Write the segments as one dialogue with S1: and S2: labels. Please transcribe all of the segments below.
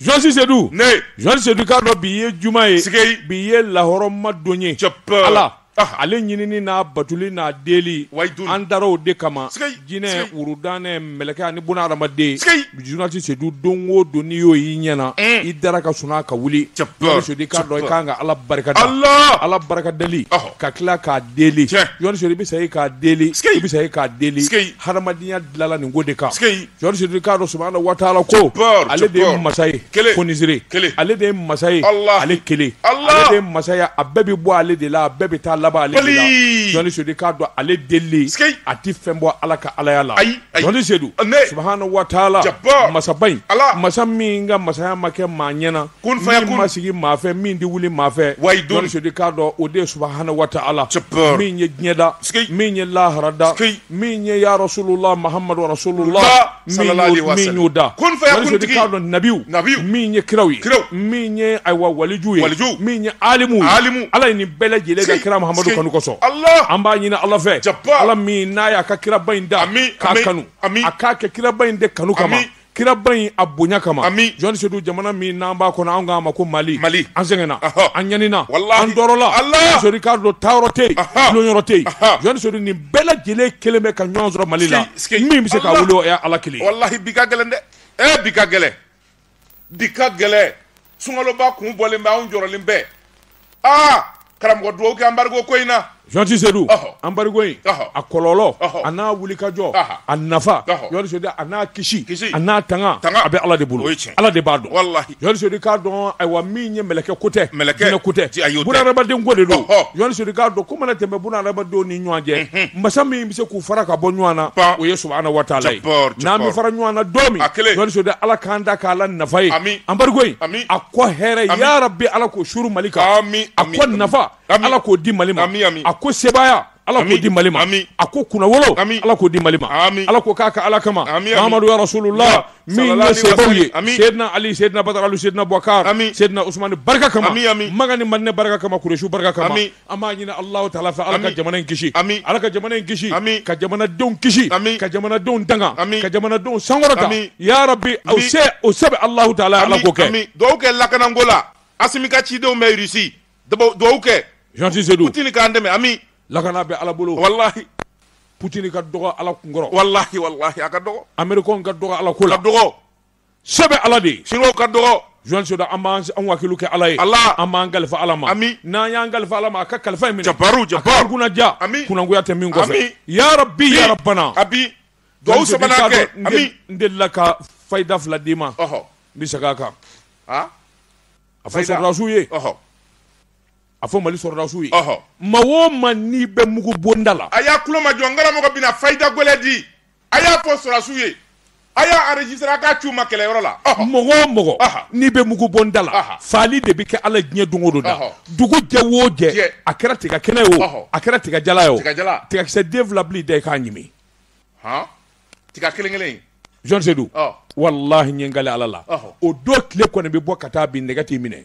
S1: journaliste sedu ne journaliste sedu k'a dɔn bi ye juma ye bi ye lahɔrɔma don ye ala Ah. ale ɲinini n'a batoli n'a deli Wahidun. an dara o de kama jinɛ wurudanɛ mɛlɛkɛ ani buna adamaden journaliste sedu don o don n'i y'o y'i ɲɛna Mm. i dara ka sunaa ka wuli journaliste sedu k'a dɔn i kan ka ala barika da ala barika dali Ɔhɔ. ka tila k'a deli Tiɲɛ. journaliste sedu i bɛ sa i k'a deli i bɛ sa i k'a deli hadamadenya dilala nin ko de kan journaliste Sedu k'a dɔn subahana wataala ko Jabbar, ale de ye Jabbar. masa ye Kelen. fonisire Kelen. ale de ye masa ye Allah. ale kelen Allah. ale de ye masaya a bɛɛ bɛ bɔ ale de la a bɛɛ bɛ taa laban ale de la journaliste Sedu k'a dɔn ale deli a ti fɛn bɔ ala ka alaya la Ayi, ayi. journaliste Sedu Ne. subahana wataala Jabbar. masaba in Allah. masa min ka masaya ma kɛ maa ɲɛna min ma sigi maa fɛ min tɛ wuli maa fɛ journaliste sedu k'a dɔn o de subahana wataala min ye diɲɛ da min ye lahara da min ye ya rasululahi mahamadu rasululahi min y'o da journaliste sedu k'a dɔn nabiw min ye kiraw ye min ye ayiwa waliju ye min ye alimu ala ye nin bɛɛ lajɛlen da kira mahamadu kanu kosɔn an b'a ɲini ala fɛ ala min n'a y'a ka kiraba in da k'a kanu a k'a kɛ kiraba in de kanu kama kiraba in a bonya kama amin journaliste sedu jamana min n'an b'a kɔnɔ an k'a ma ko mali mali an sɛgɛnna an ɲanina an tɔɔrɔla sedu k'a dɔn taayɔrɔ tɛ yen lɔyɔrɔ tɛ yen journaliste sedu nin bɛɛ lajɛlen kɛlen bɛ ka ɲɔgɔn sɔrɔ mali la min bɛ se k'a wuli o ye ala kelen walahi bi ka gɛlɛn dɛ
S2: ee bi ka gɛlɛn bi ka gɛlɛn sunkaloba kun bɔlen bɛ anw jɔrɔlen bɛ aa karamɔgɔ dugawu kɛ anbariko ko in na journaliste sedu
S1: anbariko in a kɔlɔlɔ a n'a wulikajɔ a nafa journaliste sedu a n'a kisi a n'a tanga a bɛ ala de bolo ala de b'a dɔn walahi journaliste sedu k'a dɔn ayiwa min ye mɛlɛkɛ ko tɛ jinɛ ko tɛ bunahadamaden ko de don journaliste sedu k'a dɔn ko mana tɛmɛ bunahadamadenw ni ɲɔgɔn cɛ masa min bɛ se k'u fara ka bɔ ɲɔgɔn na o ye subahana wataala n'an bɛ fara ɲɔgɔn na don min sedu ala k'an da k'a la nafa ye anbariko in a ko hɛrɛ yarabi ala k'o suuru mali kan a ko nafa ala k'o di mali ma a ko sebaaya ala k'o di mali ma a ko kunnawolo ala k'o di mali ma ala k'o k'a ka ala kama mahamadu ya rasululahi min ye sahabaw ye sedina ali sedina badara ali sedina abubakari sedina usumani barika kama makan ni madina barika kama kuresi barika kama an b'a ɲini Alahu taala fɛ Ala ka jamana in kisi, amin, Ala ka jamana in kisi, amin, ka jamanadenw kisi, amin, ka jamanadenw tanga, amin, ka jamanadenw sankɔrɔta, amin, yarabi, o se o se bɛ Alahu taala ye Ala k'o kɛ, amin, dugawu kɛ lakananko la
S2: Asimi ka cidenw bɛ Russie dugawu kɛ, journaliste Sedu,
S1: Putini k'an dɛmɛ,
S2: amin, lakana bɛ
S1: Ala bolo,
S2: walahi, Putini ka
S1: dɔgɔ Ala kunkɔrɔ, walahi, walahi, a ka
S2: dɔgɔ, Américains ka dɔgɔ Ala
S1: ko la, ka dɔgɔ
S2: Se bɛ
S1: ala de s ka
S2: dɔgɔ Jean Seydou an
S1: b'an an wakilu kɛ ala ye ala an b'an kalifa
S2: ala ma
S1: ami n'an y'an kalifa ala ma a ka kalifa in minɛ baro ja kunnaja
S2: ami
S1: kunnakuya tɛ min kɔfɛ ya rabbi ya rabbana a bi dugawu
S2: sabanan kɛ ami n delila
S1: ka fayida fila d'i ma ɔɔ n bɛ se k'a kan a a fɔ sɔrɔdasiw ye ɔɔ a fɔ mali sɔrɔdasiw ye ɔɔ maa o maa n'i bɛ mugu bonda la a y'a tulomajɔ n
S2: karamɔgɔ bɛna fayida gɛlɛn di a y'a fɔ sɔrɔdasiw ye a y'a enregistré a k'a ci u ma kɛlɛyɔrɔ la mɔgɔ o
S1: mɔgɔ n'i bɛ mugu bonda la faali de bɛ kɛ ala diɲɛ don o don na dugu jɛ o jɛ a kɛra tiga kɛnɛ ye o a kɛra tiga jalan ye o tigakisɛ den wolonfila dan i k'a
S2: ɲimi tiga kelen kelen Jean
S1: Seydou walahi n ye n kali ala la o don tile kɔni bɛ bɔ ka taa bin nɛgɛ t'i minɛ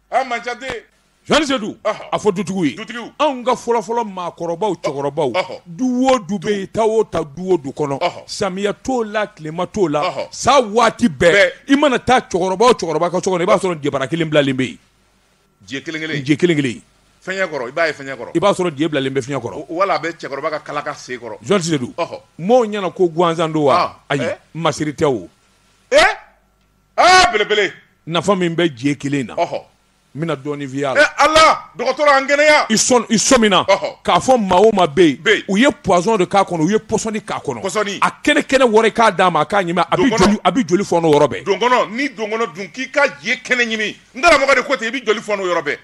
S1: a man ca dɛ Jean Seydou Ɔhɔ. a fɔ dutigiw ye Dutigiw. anw ka fɔlɔfɔlɔ maakɔrɔbaw cɛkɔrɔbaw Ɔhɔ. du o du bɛ yen ta o ta du o du kɔnɔ Ɔhɔ. samiya t'o la tilema t'o la Ɔhɔ. san waati bɛɛ Bɛɛ. i mana taa cɛkɔrɔba o cɛkɔrɔba ka so kɔnɔ i b'a sɔrɔ jebara kelen bilalen bɛ yen je
S2: kelen kelen je kelen kelen fiɲɛ kɔrɔ i b'a ye fiɲɛ kɔrɔ i b'a sɔrɔ je bilalen bɛ
S1: fiɲɛ kɔrɔ wala a bɛ cɛkɔrɔba ka
S2: kalaka sen kɔrɔ Jean Seydou Ɔhɔ.
S1: mɔɔw ɲɛna ko gansan don wa Ah, ayi eh. masiri tɛ o
S2: ee
S1: aa belebele nafa min bɛ je kelen na ɔhɔ n bɛna dɔɔnin f'i y'a la ɛ ala dɔgɔtɔrɔ
S2: an kɛnɛya i sɔn i sɔmina
S1: Ɔhɔ. k'a fɔ maa o maa bɛ Bɛ yen. yen u ye poison de k'a kɔnɔ u ye pɔsɔni k'a kɔnɔ Pɔsɔni. a kɛnɛ kɛnɛ wɔrɔ k'a d'a ma a k'a ɲimi Donkɔnɔ. a bɛ joli a bɛ joli fɔnɔ yɔrɔ bɛɛ donkɔnɔ ni donkɔnɔ
S2: dun k'i ka je kɛnɛ ɲimi n karamɔgɔ de ko ten i bɛ joli fɔnɔ yɔrɔ bɛɛ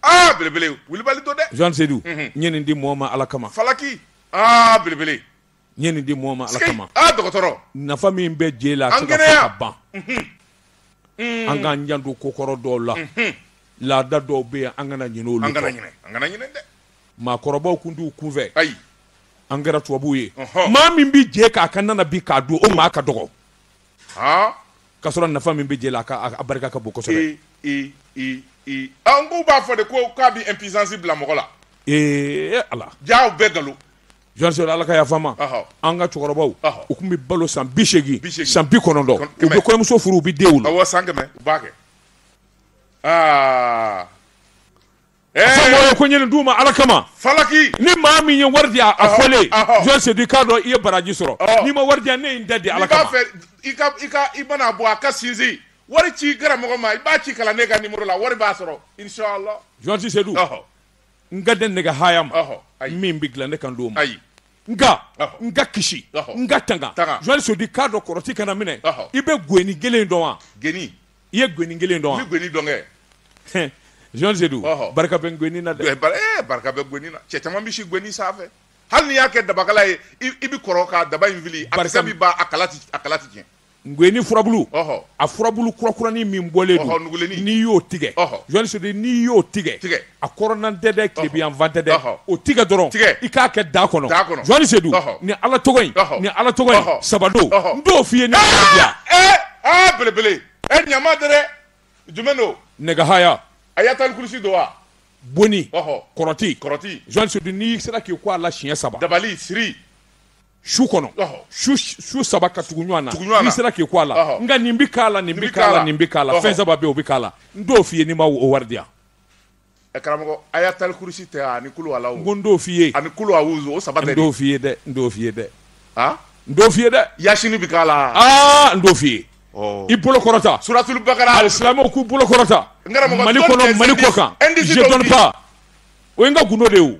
S2: aa belebele wulibali don dɛ Jean Seydou n ye nin
S1: di mɔɔ ma ala kama falaki aa
S2: belebele N ye nin
S1: di mɔgɔ ma Ala kama. Aa dɔgɔtɔrɔ! Nafa
S2: min bɛ
S1: je la a tɛ ka fɔ ka ban. An kɛnɛya! Unhun! Un! An k'an janto ko kɔrɔ dɔw la. Unhun! Laada dɔw bɛ yen, an kana ɲinɛ olu kɔ. An kana ɲinɛ, an kana ɲinɛ
S2: dɛ! Maakɔrɔbaw tun
S1: t'u kun fɛ. Ayi! An
S2: kɛra tubabuw
S1: ye. Ɔnhɔn! Maa min bɛ je k'a ka na na bi k'a dun, o maa ka dɔgɔ. Haa! K'a sɔrɔ nafa min bɛ je la, a ka, a barika ka bon kosɛbɛ. Ee! Ee! Ee! Ee!
S2: Aa n k'u b'a fɔ de ko k'a bɛ impuissance bila mɔgɔ la. Ee! Ee Ala!
S1: Jaa u bɛɛ nkalon!
S2: Jean Seydou, Ala
S1: ka yafa n ma, ɔhɔ, an ka cɛkɔrɔbaw, ɔhɔ, u tun bɛ balo san bi seegin, Bi seegin. san bi kɔnɔntɔn, Kɔn- kɛmɛ. u bɛ kɔɲɔmuso furu u bɛ den wolo. awɔ san kɛmɛ u b'a kɛ aa Fɛn mɔgɔ ɛɛ ye ko ɲini d'u ma Ala kama. falaki ni
S2: maa min ye
S1: wari di a a Ɔhɔ, fɔlen ɔhɔ. Jean Seydou k'a dɔn i ye baraji sɔrɔ Ɔhɔ. n'i ma wari di yan ne ye n ta di ala kama n'i b'a fɛ i ka i
S2: ka i mana bɔ a ka sinsin wari ci karamɔgɔ ma i b'a ci kalanden ka nimoro la wari b'a sɔrɔ inshallah Jean Seydou ɔhɔ
S1: n ka den nɛgɛ haya maa min bɛ dilan ne kan t'o ma nka n ka kisi n ka tanga Jean Seydou k'a dɔn kɔrɔti kana minɛ i bɛ geni kelen dɔn wa geni i ye
S2: geni kelen
S1: dɔn wa geni dɔn
S2: kɛ Jean
S1: Seydou barika bɛ geni na dɛ eh, barika bɛ geni
S2: na cɛ caman bɛ si geni sanfɛ hali n'i y'a kɛ dabakala ye i bɛ kɔrɔ ka daba in fili a kisɛ bɛ ban a kala a kala tɛ tiɲɛ Geni
S1: furabulu a furabulu kurakuranin min bɔlen don n'i y'o tigɛ Jean Seydou n'i y'o tigɛ a kɔrɔnna tɛ dɛ tilebinyanfan tɛ dɛ o tigɛ dɔrɔn i k'a kɛ da kɔnɔ Jean Seydou ni ala ni ala tɔgɔ saba don n t'o f'i
S2: ye belebele ɲama tɛ dɛ jumɛn don
S1: nɛgɛhaya ayatal kursi don
S2: wa
S1: boni kɔrɔti Jean Seydou n'i sera k'i ko a la siɲɛ saba dabali siri su kɔnɔ su saba ka tugu ɲɔgɔn na n'i sera k'i ko a la nka nin bɛ k'a la nin bɛ k'a la nin bɛ k'a la fɛn saba bɛ yen o bɛ k'a la n t'o f'i ye n'i ma o wari di yan karamɔgɔ
S2: ayatal kursi tɛ ani kulu ala n ko n t'o f'i ye ani
S1: kulu awuzu o saba
S2: tɛ n t'o f'i ye dɛ n
S1: t'o
S2: f'i
S1: ye dɛ aa n t'o f'i ye dɛ yasini bɛ k'a
S2: la aa n t'o f'i
S1: ye i bolo kɔrɔta suratulu bakara alisilamɛw
S2: k'u bolo
S1: kɔrɔta mali kɔnɔ mali kɔkan je donne pas o ye n ka gundo de ye o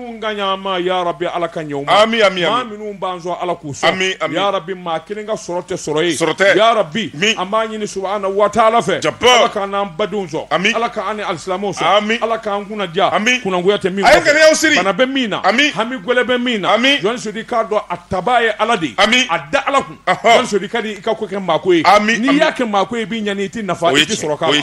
S1: ŋaniyama ya rabi ala k'a ɲɛ u ma ami ami maa minnu b'an sɔn ala k'u sɔn ami ami ya rabi maa kelen ka sɔrɔ tɛ sɔrɔ ye sɔrɔ tɛ ya rabi ami an b'a ɲini subahana wa taala fɛ jaba ala k'an n'an badenw sɔn ami ala k'an ni alisilamɛw sɔn ami ala k'an kunna diya ami kunnangoya tɛ min a ye ŋaniyaw siri bana bɛ min na ami hami gwɛlɛ bɛ min na ami Jean Seydou i k'a dɔn a tabaa ye ala de ye ami a da ala kun Jean Seydou ka di i ka ko kɛ maako ye ami n'i y'a kɛ maako ye i b'i ɲani i tɛ nafa i tɛ sɔrɔ k'a la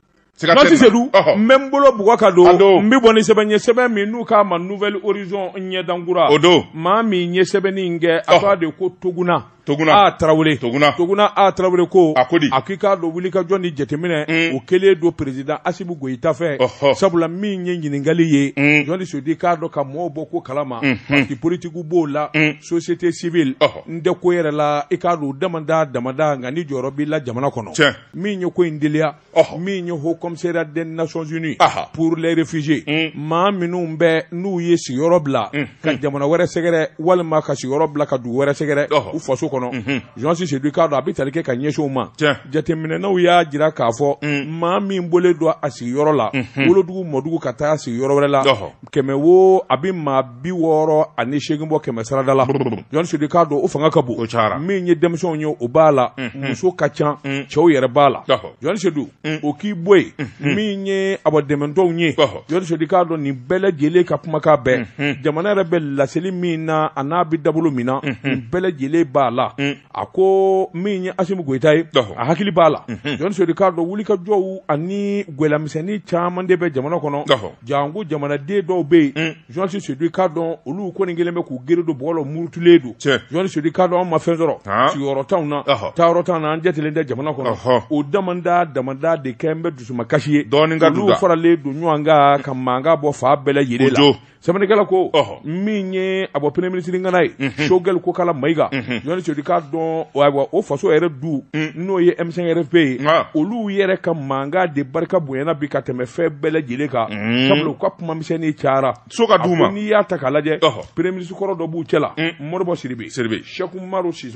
S1: Jean Seydou n bɛ n bolo bugɔ ka don n bɛ bɔ ni sɛbɛn ye sɛbɛn min n'u k'a ma Nouvel Horizon ɲɛdankura o don
S2: maa min ye sɛbɛnni
S1: in kɛ a k'a de ko Tuguna Tuguna A Tarawele Tuguna Tuguna A Tarawele ko a ko di a k'i k'a dɔn wulikajɔ ni jateminɛ o kɛlen don président Assimi Goyita fɛ sabula min ye ɲininkali ye Jean Seydou i k'a dɔn ka mɔɔw bɔ ko kalama parti politique b'o la société civile n tɛ ko yɛrɛ la i k'a dɔn u damanda damanda nka ni jɔyɔrɔ b'i la jamana kɔnɔ. min ye ko in deliya min ye haut commissariat des nations unies pour les réfugiés mm. maa minnu bɛ n'u ye sigiyɔrɔ bila mm. ka mm. jamana wɛrɛ sɛgɛrɛ walima ka sigiyɔrɔ bila ka dugu wɛrɛ sɛgɛrɛ u faso kɔnɔ mm-hmm. Jean Seydou i k'a dɔn a bɛ tali kɛ ka ɲɛsin u ma jateminɛnaw y'a jira k'a fɔ maa min bɔlen don a sigiyɔrɔ la mm-hmm. wolodugu mɔdugu ka taa sigiyɔrɔ wɛrɛ la kɛmɛ wo a bɛ maa bi wɔɔrɔ ani seegin bɔ kɛmɛsarada la Jean Seydou i k'a dɔn o fanga ka bon min ye denmisɛnw ye o b'a la muso ka ca cɛw yɛrɛ b'a la Jean Seydou o k'i bɔ yen min ye a dɛmɛtɔnw ye Jean Seydou i k'a dɔn nin bɛɛ lajɛlen ka kumakan bɛɛ jamana yɛrɛ bɛ laseli min na a n'a bɛ dabolo min na nin bɛɛ lajɛlen b'a la a ko min ye Asimu Goyita ye, ɔhɔ, a hakili b'a la, unhun, Jean Seydou i k'a dɔn wulikajɔw ani gwɛlɛyamisɛnnin caman de bɛ jamana kɔnɔ, ɔhɔ, janko jamanaden dɔw bɛ yen, un, Jean Seydou i k'a dɔn olu kɔni kɛlen bɛ k'u gere don bɔgɔ la u murutulen don, tiɲɛ, Jean Seydou i k'a dɔn anw ma fɛn sɔrɔ Han. sigiyɔrɔ t'anw na Ɔhɔ. taayɔrɔ t'an na an jatelen tɛ jamana kɔnɔ Ɔhɔ. o damanda damanda de kɛlen bɛ dusumakasi ye Dɔɔnin ka don olu da faralen don ɲɔgɔn kan ka mankan bɔ fan bɛɛ lajɛlen la Kojo. sɛbɛnnikɛla ko min ye a bɔ premier ministre ŋana ye mhm. Choguel Kokalla Maïga mhm. jɔn sedu k'a dɔn ayiwa o faso yɛrɛ du mm. n'o ye m5 rfp ye olu yɛrɛ ka mankan de barika bonyana bi ka tɛmɛ fɛn bɛɛ lajɛlen kan mm. sabula u ka kuma misɛnnin cayara so ka d'u ma n'i y'a ta k'a lajɛ premier ministre kɔrɔ dɔ b'u cɛla mm. Modibo Sidibé Sɛkumaru si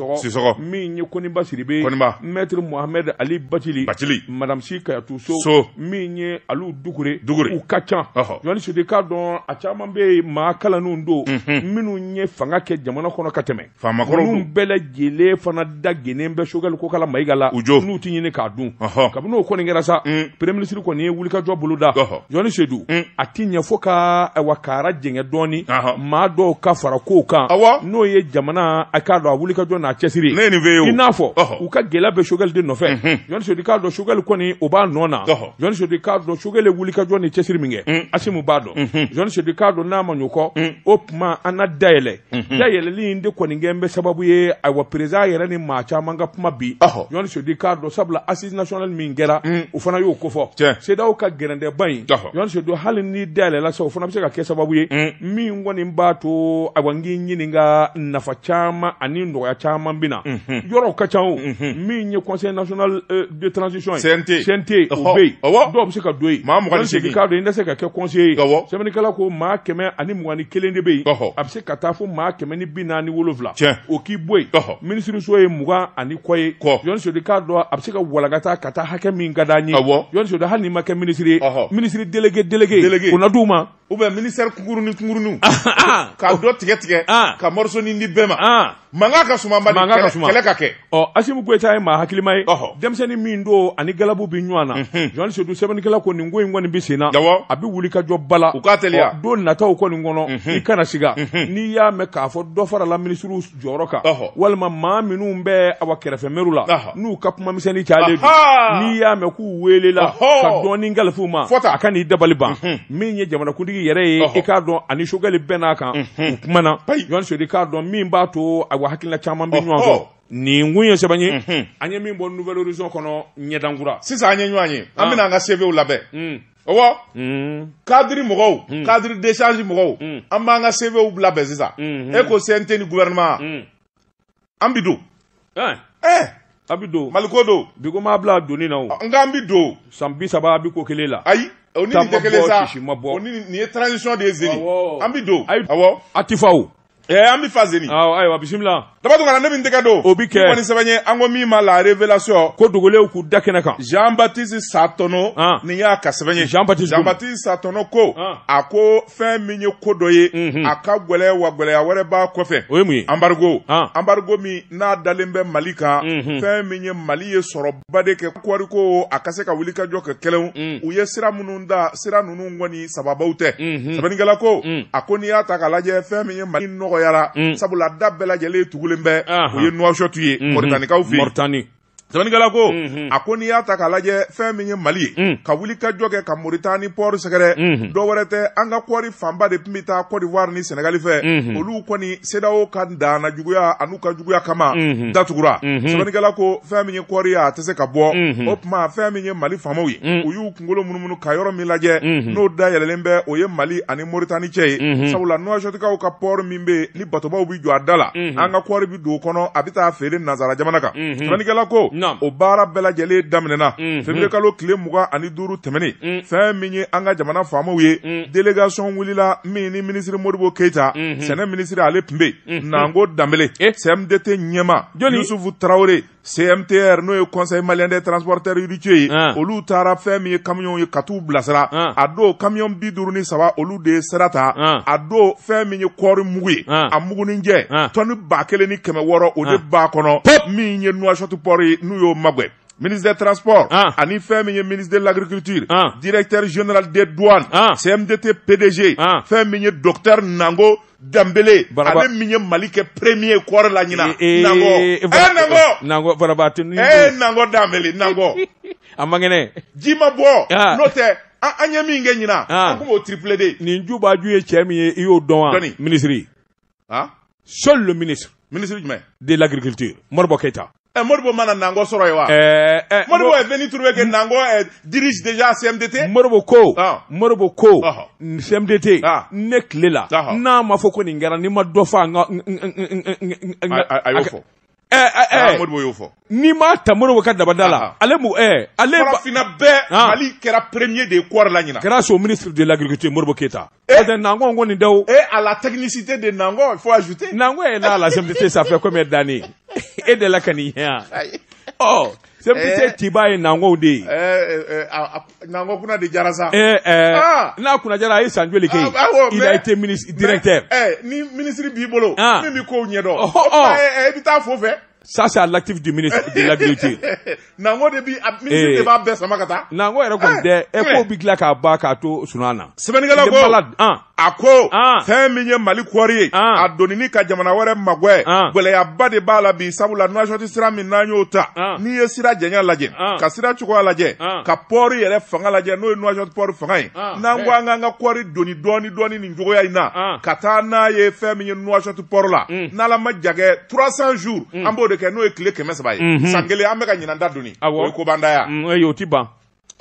S1: min ye koɔni basiri bɛ mɛt muhame ali bacili bali marasi katu so so min ye ali dugukure u ka ca ɲɔgɔn sudi k'a dɔn a caman bɛ yen maa kalan don minnu ye fanga kɛ jamana kɔnɔ ka tɛmɛ faamakolon bɛɛ lajɛlen fana da g bɛ sokɛkali ko kala mayika la u jɔ n'u tɛ ɲini k'a dun kabini o kɔni kɛra sa pre minisiriri kɔni ye wulikajɔ boloda jɔnni sedu a tɛ ɲɛfɔ ka wa ka jgɛ dɔɔninɔni maa dɔw ka fara ko kan n'o ye jamana a k'a dɔn a wulikajɔ n'a cɛsiri i n'a fɔ u ka gɛlɛya bɛ Choguel de nɔfɛ jɔn sedu k'a dɔn Choguel kɔni o b'a nɔ na jɔn sedu k'a dɔn Choguel ye wulikajɔ ni cɛsiri min kɛ Assimi b'a dɔn jɔn sedu k'a dɔn n'a ma ɲinɛ o kɔ o tuma an na dayɛlɛ dayɛlɛli in de kɔni kɛlen bɛ sababu ye ayiwa président yɛrɛ ni maa caman ka kuma bi jɔn sedu k'a dɔn sabula nationale min kɛra o fana y'o kofɔ CEDEAO ka gɛrɛntɛba in jɔn sedu hali ni da yɛlɛla sa o fana bɛ se ka kɛ sababu ye min kɔni b'a to a n k'i ɲininka nafa caman ani nɔgɔya caman bɛ na yɔrɔw ka ca min ye conseil national de transition ye CNT o bɛ yen dɔw bɛ se ka don yen jɔn sedu k'a dɔn i se ka kɛ conseiller ye sɛbɛnnikɛla ko maa kɛmɛ ani mugan ni kelen de bɛ yen a bɛ se ka taa fo maa kɛmɛ ni bi naani wolowula o k'i bɔ yen minisiririso ye mugan ani kɔ ye jɔn sedu k'a dɔn a bɛ se ka walagata ka taa hakɛ min ka d'an ye jɔn sedu hali n'i ma kɛ minisiri ye ministre délégué délégué o na d'u ma ou bien ministère kunkurunin kunkuruninw ka dɔ tigɛ tigɛ ka mɔrisonin di bɛɛ ma mankan ka suma bali mankan ka suma kɛlɛ ka kɛ ɔ Assimi Goïta ye maa hakilima ye denmisɛnnin min don ani galabu bɛ ɲɔgɔn na jɔn sedu sɛbɛnnikɛla ko nin ko in kɔni bɛ sen na a bɛ wulikajɔba la u k'a teliya don nataw kɔni kɔnɔ i kana siga n'i y'a mɛn k'a fɔ dɔ farala minisiriw jɔyɔrɔ kan walima maa minnu bɛ awa kɛrɛfɛ mɛru la n'u ka kumamisɛnnin cayalen don n'i y'a mɛn k'u welela ka dɔɔni kalifa u ma a kan'i dabali ban mhm. min ye jamanakuntigi yɛrɛ ye i k'a dɔn ani Choguel bɛɛ n'a kan mhm. u kumana jɔn sedu k'a dɔn min b'a to awa hakilila caman bɛ ɲɔgɔn sɔrɔ nin kun ye sɛbɛn ye mhm. an ye min bɔ Nouvel Horizon kɔnɔ ɲɛdankura sisan an ye ɲɔgɔn ye an ah. bɛna an ka CVw labɛn mm. ɔwɔ mm. cadre mɔgɔw mm. cadre d'échange mɔgɔw mm. an b'an ka CVw labɛn sisan mm-hmm. e ko cnt ni gouvernement mm. an bi don eh. eh. a bi don maliko don bi ko m'a bila doni na o nka an bi don san bi saba a bi ko kelen la ayi o ni nin tɛ kelen sa o ni nin ye transition de ye zeni an bi don awɔ a ti fa o Eh, an bɛ fa zeni awɔ ayiwa bisimila Daba Tunkara ne min tɛgɛ don o bɛ kɛ kɔni sɛbɛn ye an ko min ma la révélation ko dogolenw k'u da kɛnɛ kan jean baptiste satɔnɔ ah. nin y'a ka sɛbɛn ye jean baptiste jean baptiste satɔnɔ ko ah. a ko fɛn min ye ko dɔ ye mhm. a ka gɛlɛya wa gɛlɛya wɛrɛ b'a kɔfɛ o ye mun ye embargo ah. embargo min n'a dalen bɛ mali kan mhm. fɛn min ye mali ye sɔrɔ ba de kɛ kɔɔri ko a ka se ka wuli ka jɔ kɛ kɛlɛw mm. u ye sira minnu da sira ninnu kɔni sababaw tɛ mm-hmm. sɛbɛnnikɛla ko mm. a ko n'i y'a ta ka lajɛ fɛn min ye mali nɔgɔyara mm. sabula da bɛɛ lajɛlen tugulen bɛ o ye Nouakchott ye mm-hmm. mɔritanikaw fɛ yen sɛbɛnnikɛla ko mm-hmm. a ko n'i y'a ta k'a lajɛ fɛn min ye mali ye mm. ka wuli ka jɔ kɛ ka moritani pɔri sɛgɛrɛ mm-hmm. dɔ wɛrɛ tɛ an ka kɔɔri fanba de tun bɛ taa kɔdiwari ni sɛnɛgali fɛ mm-hmm. olu kɔni CEDEAO ka danna juguya an'u ka juguya kama unhun, datugura unhun, sɛbɛnnikɛla ko fɛn min ye kɔɔri ye a tɛ se ka bɔ unhun, o tuma fɛn min ye Mali faamaw ye un, u y'u kunkolo munumunu ka yɔrɔ min lajɛ unhun, n'o dayɛlɛlen bɛ o ye Mali ani Mauritanie cɛ ye unhun, sabula Nouakchottkaw ka port min bɛ yen ni batobaw bɛ jɔ a da la unhun, an ka kɔɔri bɛ don o kɔnɔ a bɛ taa feere nanzara jamana kan unhun, sɛbɛnnikɛla ko naam, o baara bɛɛ lajɛlen daminɛna unhun, février kalo tile mugan ani duuru tɛmɛnen un, fɛn min ye an ka jamana faamaw ye un, délégation wulila min ni minisiri Modibo keyita mhm. sɛnɛ minisiri ale tun bɛ yen mhm. Nango Danbele CMDT ɲɛmaa Yusufu tarawele cmtr n'o ye conseil malien des transporteurs routiers ye ah. olu taara fɛn min ye kamiyɔn ye ka taa u bilasira ah. a don kamiyɔn bi duuru ni saba olu de ye sira ta ah. a don fɛn min ye kɔɔri mugu ye a muguninjɛ tɔnni ba kelen ni kɛmɛ wɔɔrɔ o de b'a kɔnɔ min ye Nouakchott pɔri ye n'u y'o magɛn
S2: ministre des transports ah. ani fɛn min ye ministre de l'agriculture ah. directeur général des douanes ah. CMDT PDG fɛn min ye docteur Nango danbele ale min ye mali kɛ premier kɔɔri la ɲina eh, eh, nango eh, nango nango baaraba
S1: tɛ eh nango
S2: danbele nango a man
S1: kɛnɛ ji ma
S2: bɔ ah. n'o tɛ an ye min kɛ ɲina ah. an kun b'o tripler dɛ nin ju b'a ju ye cɛ
S1: min ye i y'o dɔn wa minisiri ah seul le ministre ministre jumɛn
S2: de
S1: l'agriculture Modibo Keita Eh, Modibo ma na Nango
S2: sɔrɔ yen wa eh, eh, Modibo est venu trouver que nango eh, dirige déjà CMDT Modibo ko
S1: ah. Modibo ko ah. CMDT ah. ne tile la ah. n'a ma fɔ ko nin kɛra n'i ma dɔ fa n ka
S2: a y'o fɔ y'o fɔ n'i m'a ta Modibo
S1: ka dabada la ale mu ale
S2: farafinna bɛɛ mali kɛra premier de ye kɔɔri la ɲina grâce au ministre de l'agriculture
S1: Modibo Keyita n'o Nango ko nin daw et à la
S2: technicité de Nango il faut ajouter Nango est là à la CMDT
S1: ça fait combien d'années e delila ka nin ye yan ɔ CMDT cɛba ye Nango de
S2: ye Nango kunna de diyara sa
S1: n'a kunna diyara a ye san joli kɛ il a été ministre directeur
S2: ni minisiri b'i bolo min bɛ ko ɲɛdɔn i bɛ taa fo fɛ ça c'est à
S1: l'actif du ministre de l'agriculture Nango
S2: de de b'a bɛɛ sama ka taa Nango yɛrɛ tun tɛ
S1: e ko bɛ tila k'a ba k'a to sun na sɛbɛnnikɛla la
S2: a ko ah. fɛn min ye mali kɔɔri ye ah. a donini ka jamana wɛrɛ magwɛ ah. gɛlɛyaba de b'a la bi sabula nuwasɔti sira min n'an y'o ta n'i ye sira janya lajɛ ka sira cogoya lajɛ ka pɔɔri yɛrɛ fanga lajɛ n'o ye nuwasɔti pɔɔri fanga ye n'an ko an k'an ka kɔɔri doni dɔɔni dɔɔni nin cogoya in na ka taa n'a ye fɛn min ye nuwasɔti pɔɔri la mm. n'ala ma jagɛ 300 jours mm. an b'o de kɛ n'o ye tile kɛmɛ saba ye mm-hmm. san kelen an bɛ ka ɲinan ta doni o ye kobandaya mm, o ti ban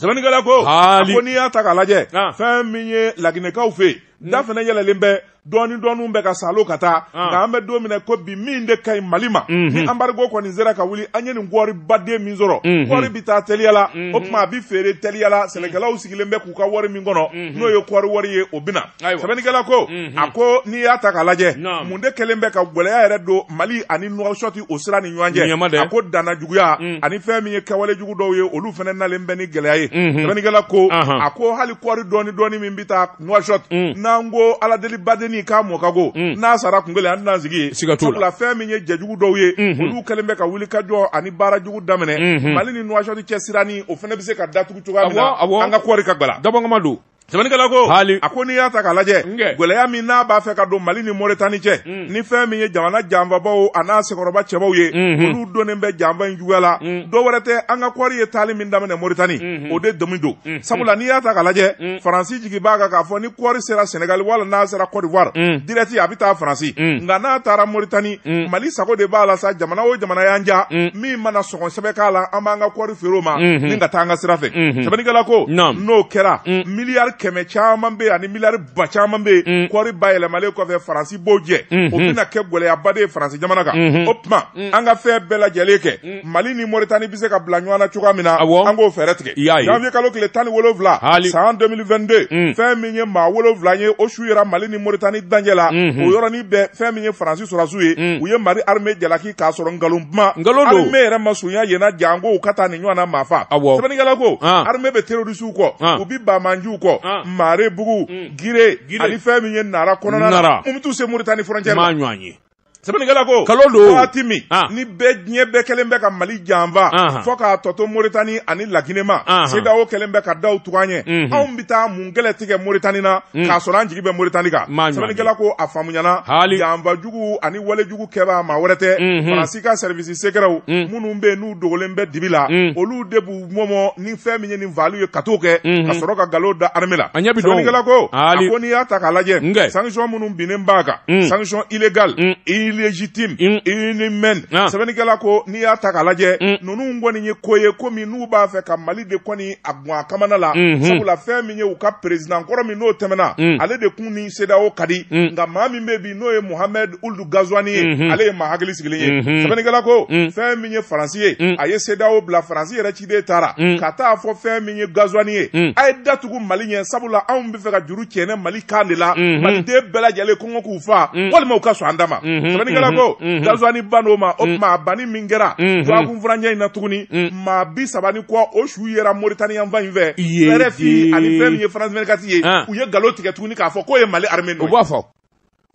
S1: sɛbɛnnikɛla ko a
S2: ko n'i y'a ta k'a lajɛ fɛn min ye laginɛkaw fɛ yen hmm. da fana yɛlɛlen bɛ dɔɔni dɔɔniw bɛ ka salo ka taa nka an bɛ don min na ko bi min de ka ɲi mali ma hmm. ni anbarigo kɔni sera ka wuli an ye nin kɔɔri baden min sɔrɔ hmm. kɔɔri bɛ taa teliya la o tuma a bɛ feere teliya la sɛnɛkɛlaw sigilen bɛ k'u ka wari min kɔnɔ n'o ye kɔɔri wari ye o bɛ na sɛbɛnnikɛla ko mhm. a ko n'i y'a ta k'a lajɛ mun de kɛlen bɛ ka gɛlɛya yɛrɛ don mali ani nuwasɔti o sira ni ɲɔgɔn cɛ a ko danna juguya mm. ani fɛn min ye kɛwale jugu dɔw ye olu fana nalen bɛ ni gɛlɛya ye mhm. sɛbɛnnikɛla ko a ko hali kɔɔri dɔɔni dɔɔni min bɛ taa nuwasɔti mm. n'an ko aladeli badenni k'a mɔ ka go mm. n'a sara kun kelen an tɛna sigi ye sabula fɛn min ye jɛjugu dɔw ye mhm. olu kɛlen bɛ ka wuli ka jɔ ani baara jugu daminɛ mali ni nuwasɔti cɛ sira nin o fana bɛ se ka datugu cogoya min na an ka kɔɔri ka gbala dabɔngama don sɛbɛnnikɛla ko hali a ko n'i y'a ta k'a lajɛ gɛlɛya min n'a b'a fɛ ka don mali ni moritani cɛ mm. ni fɛn min ye jamana janfabaw a n'a sekɔrɔba cɛbaw ye mm-hmm. olu donnen bɛ janfa in juguya la mm. dɔ wɛrɛ tɛ an ka kɔɔri ye taali min daminɛ moritani mm-hmm. o de dimi don mm-hmm. sabula n'i y'a ta k'a lajɛ mm. faransi jigi b'a kan k'a fɔ ni kɔɔri sera senegali wala n'a sera kɔdiwari dirɛti a bɛ taa faransi nka n'a taara moritani mali sago de b'a la sa jamana o jamana y'an ja min mana sɔngɔ sɛbɛ k'a la an b'an ka kɔɔri feere o ma ni ka taa an ka sira fɛ sɛbɛnnikɛla ko n'o kɛra mm. miliyari kɛmɛ caman bɛ ani miliyari ba caman bɛ mm. kɔɔri bayɛlɛmalen kɔfɛ faransi b'o jɛ mm-hmm. o bɛna kɛ gɛlɛyaba de ye faransi jamana kan mm-hmm. o tuma mm. an ka fɛn bɛɛ lajɛlen kɛ mali ni moritani bɛ se ka bila ɲɔgɔn na cogoya min na an k'o fɛɛrɛ tigɛ janvier kalo tile tan ni wolonwula san 2022 fɛn min ye maa wolonwula ye o su yera mali ni moritani dancɛ la mm-hmm. o yɔrɔnin bɛɛ fɛn min ye faransi sɔrɔdasiw ye u ye mali armée jalaki k'a sɔrɔ nkalon kuma nkalon don armée yɛrɛ ma surunya yen na janko u ka taa nin ɲɔgɔnna maa fa awɔ sɛbɛnnikɛla ko ah. armée bɛ terrorisiw kɔ ah. u bi bamanjiw kɔ ah. marebugu mm. gire ani fɛn min ye nara kɔnɔna na mun bɛ t'u se Mauritanie frontière la ɲɔgɔn ye sɛbɛnnikɛla ko kalo don waati min ni bɛɛ diɲɛ bɛɛ kɛlen bɛ ka mali janfa fo k'a tɔ to moritani ani laginɛ ma sedawo kɛlen bɛ ka daw tugu an ɲɛ mhm. anw bɛ taa mun kɛlɛ tigɛ moritani na mhm. k'a sɔrɔ an jigi bɛ moritani kan sɛbɛnnikɛla ko a faamuyana janfa jugu ani wale jugu kɛbaa maa wɛrɛ tɛ mhm. faransi ka sɛrivisi segrɛw mhm. minnu bɛ yen n'u dogolen bɛ dibi la mhm. olu de b'u mɔmɔ ni fɛn min ye nin valiw ye ka t'o kɛ ka sɔrɔ ka nkalon da arme la sɛbɛnnikɛla ko a ko n'i y'a ta k'a lajɛ sanction minnu binnen b'a kan sanction illégal illégitime inhumaine ah. sɛbɛnnikɛla ko n'i y'a ta k'a lajɛ ninnu kɔni ye ko ye komi n'u b'a fɛ ka mali de kɔni a gun a kamana la sabula fɛn min ye u ka perezidan kɔrɔ min n'o tɛmɛna ale de kun ni sedao ka di nka maa min bɛ n'o ye Mohamed Ould Ghazouani ye mm -hmm. ale ye maa hakili sigilen ye mm -hmm. sɛbɛnnikɛla ko mm -hmm. fɛn min ye Faransi ye mm -hmm. a ye CEDEAO bila Faransi yɛrɛ ciden taara mm -hmm. ka taa fɔ fɛn min ye Ghazouani ye mm -hmm. a ye da tugu Mali ɲɛ sabula anw bɛ fɛ ka juru cɛnɛ Mali kan de la mm -hmm. Maliden bɛɛ lajɛlen kɔngɔ k'u fa mm -hmm. walima u ka sɔn an da ma mm -hmm. sɛbɛnnikɛla ko mm -hmm. Ghazouani bann'o ma o tuma a banni min kɛra dɔgɔkun furancɛ in na tuguni maa bi saba ni kɔ o su yera Mauritanie yan fan in fɛ RFI ani fɛn min ye France 24 ye u ye nkalon tigɛ tuguni k'a fɔ k'o ye Mali armée nɔ ye u b'a fɔ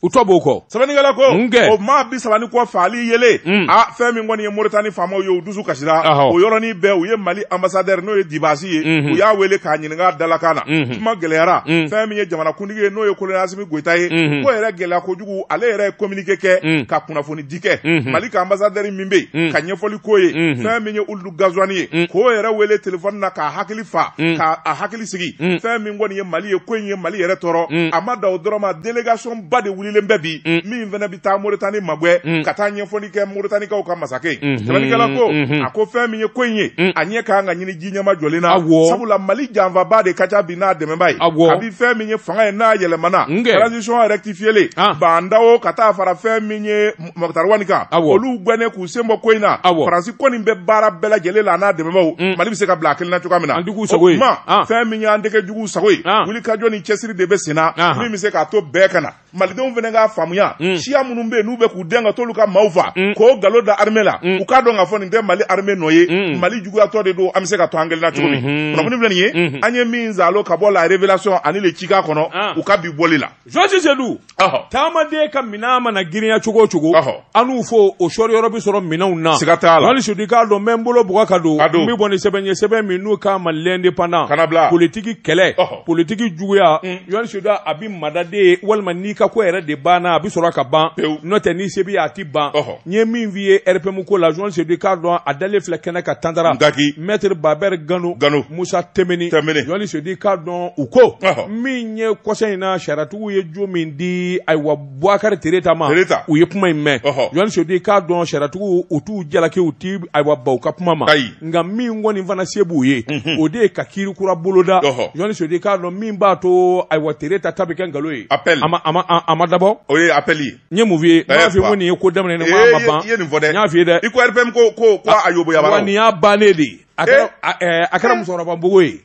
S2: u
S1: tɔ b'o kɔ sɛbɛnnikɛla ko
S2: o maa bi saba ni kɔ fagali yelen mm. a fɛn min kɔni ye moritani faamaw ye u dusu kasira o yɔrɔnin bɛɛ u ye mali ambasadɛri n'o ye dibasi ye mhm. u y'a wele k'a ɲininka dalakan na mhm. kuma gɛlɛyara mm. fɛn min ye jamanakuntigi ye n'o ye kolonɛli asimi goyita ye mhm. ko yɛrɛ gɛlɛya kojugu ale yɛrɛ ye kominike kɛ mm. ka kunnafoni di kɛ mali ka ambasadɛri min bɛ yen ka ɲɛfɔli k'o ye fɛn min ye Ould Ghazouani ye mm. k'o yɛrɛ wele telefɔni na k'a hakili fa mm. k'a hakili sigi mm. fɛn min kɔni ye mali ye ko in ye mali yɛrɛ tɔɔrɔ mm. a ma dan o dɔrɔn ma delegation ba de wulilen bɛ bi mm. min fana bɛ taa moritani magwɛ mm. ka taa ɲɛfɔli kɛ moritanikaw ka masakɛ ye mm -hmm. sɛbɛnnikɛla ko mm -hmm. a ko fɛn min ye ko in ye mm. a ɲɛ ka kan ka ɲini ji ɲɛma jɔlen na sabula mali janfabaa de ka ca bi n'a dɛmɛbaa ye kabi fɛn min ye fanga ye n'a yɛlɛmana transition rectifiélen ah. Bah N'Daw ka taa fara fɛn min ye Moctar Ouane kan olu gɛnnen k'u sen bɔ ko in na faransi kɔni bɛ baara bɛɛ lajɛlen la n'a dɛmɛbaaw mm. mali bɛ se ka bila a kelen na cogoya min na ah. fɛn min y'an tɛgu juguw sago ye wuli ka jɔ ni cɛsiri de bɛ senna ah. min bɛ se k'a to bɛɛ ka na malidenw fana k'a faamuya mm. siya minnu bɛ yen n'u bɛ k'u dɛn ka t'olu ka maaw faa mm. k'o nkalon da armée la u k'a dɔn k'a fɔ nin tɛ mali armée nɔ ye mali juguyatɔ de don an bɛ se ka to an kelen na cogo min mm-hmm. kunnafoni filɛ nin ye mm-hmm. an ye min zalo ka bɔ la révélation ani le Tjikan kɔnɔ u ka bi bɔli la jɔsi sedu
S1: taamaden ka minɛn mana girinya cogo o cogo an n'u fɔ o sɔrɔ yɔrɔ bɛ sɔrɔ minɛnw na siga t'a la yɔrɔ sedu
S2: k'a dɔn n bɛ
S1: n bolo bugɔ ka don n bɛ bɔ ni sɛbɛn ye sɛbɛn min n'u k'a ma lɛndepandan politiki kɛlɛ politiki juguya yɔrɔ sedu a bɛ mada de walima n'i ka ko yɛrɛ de banna a bɛ sɔrɔ ka ban n'o tɛ ni se b'i ye a tɛ ban n ye min f'i ye rpm ko la yɔrɔ sedu k'a dɔn a dalen filɛ kɛnɛ kan tantara mɛtiri babɛri gano musa Timbiné yɔrɔ sedu k'a dɔn u ko min n ye kɔsa in na sariyatigiw ye jo min di ayiwa buwakari tereta ma u ye kuma in mɛn jɔni sedu k'a dɔn sariyatigiw u t'u jalaki u ti ayiwa ban u ka kuma ma nka min kɔni fana se b'u ye mhm. o de ye ka kiiri kura boloda jɔni sedu k'a dɔn min b'a to ayiwa tereta ta bɛ kɛ nkalon ye a ma dabɔ o ye apɛli ye n
S2: ye mun f'i ye n y'a f'i
S1: ye ko nin ye ko daminɛ ni ko a ma ban n y'a f'i ye dɛ
S2: i ko rpm ko
S1: ko
S2: a yoboyabara nin y'a bannen de
S1: ye a kɛra musokɔrɔba npogo ye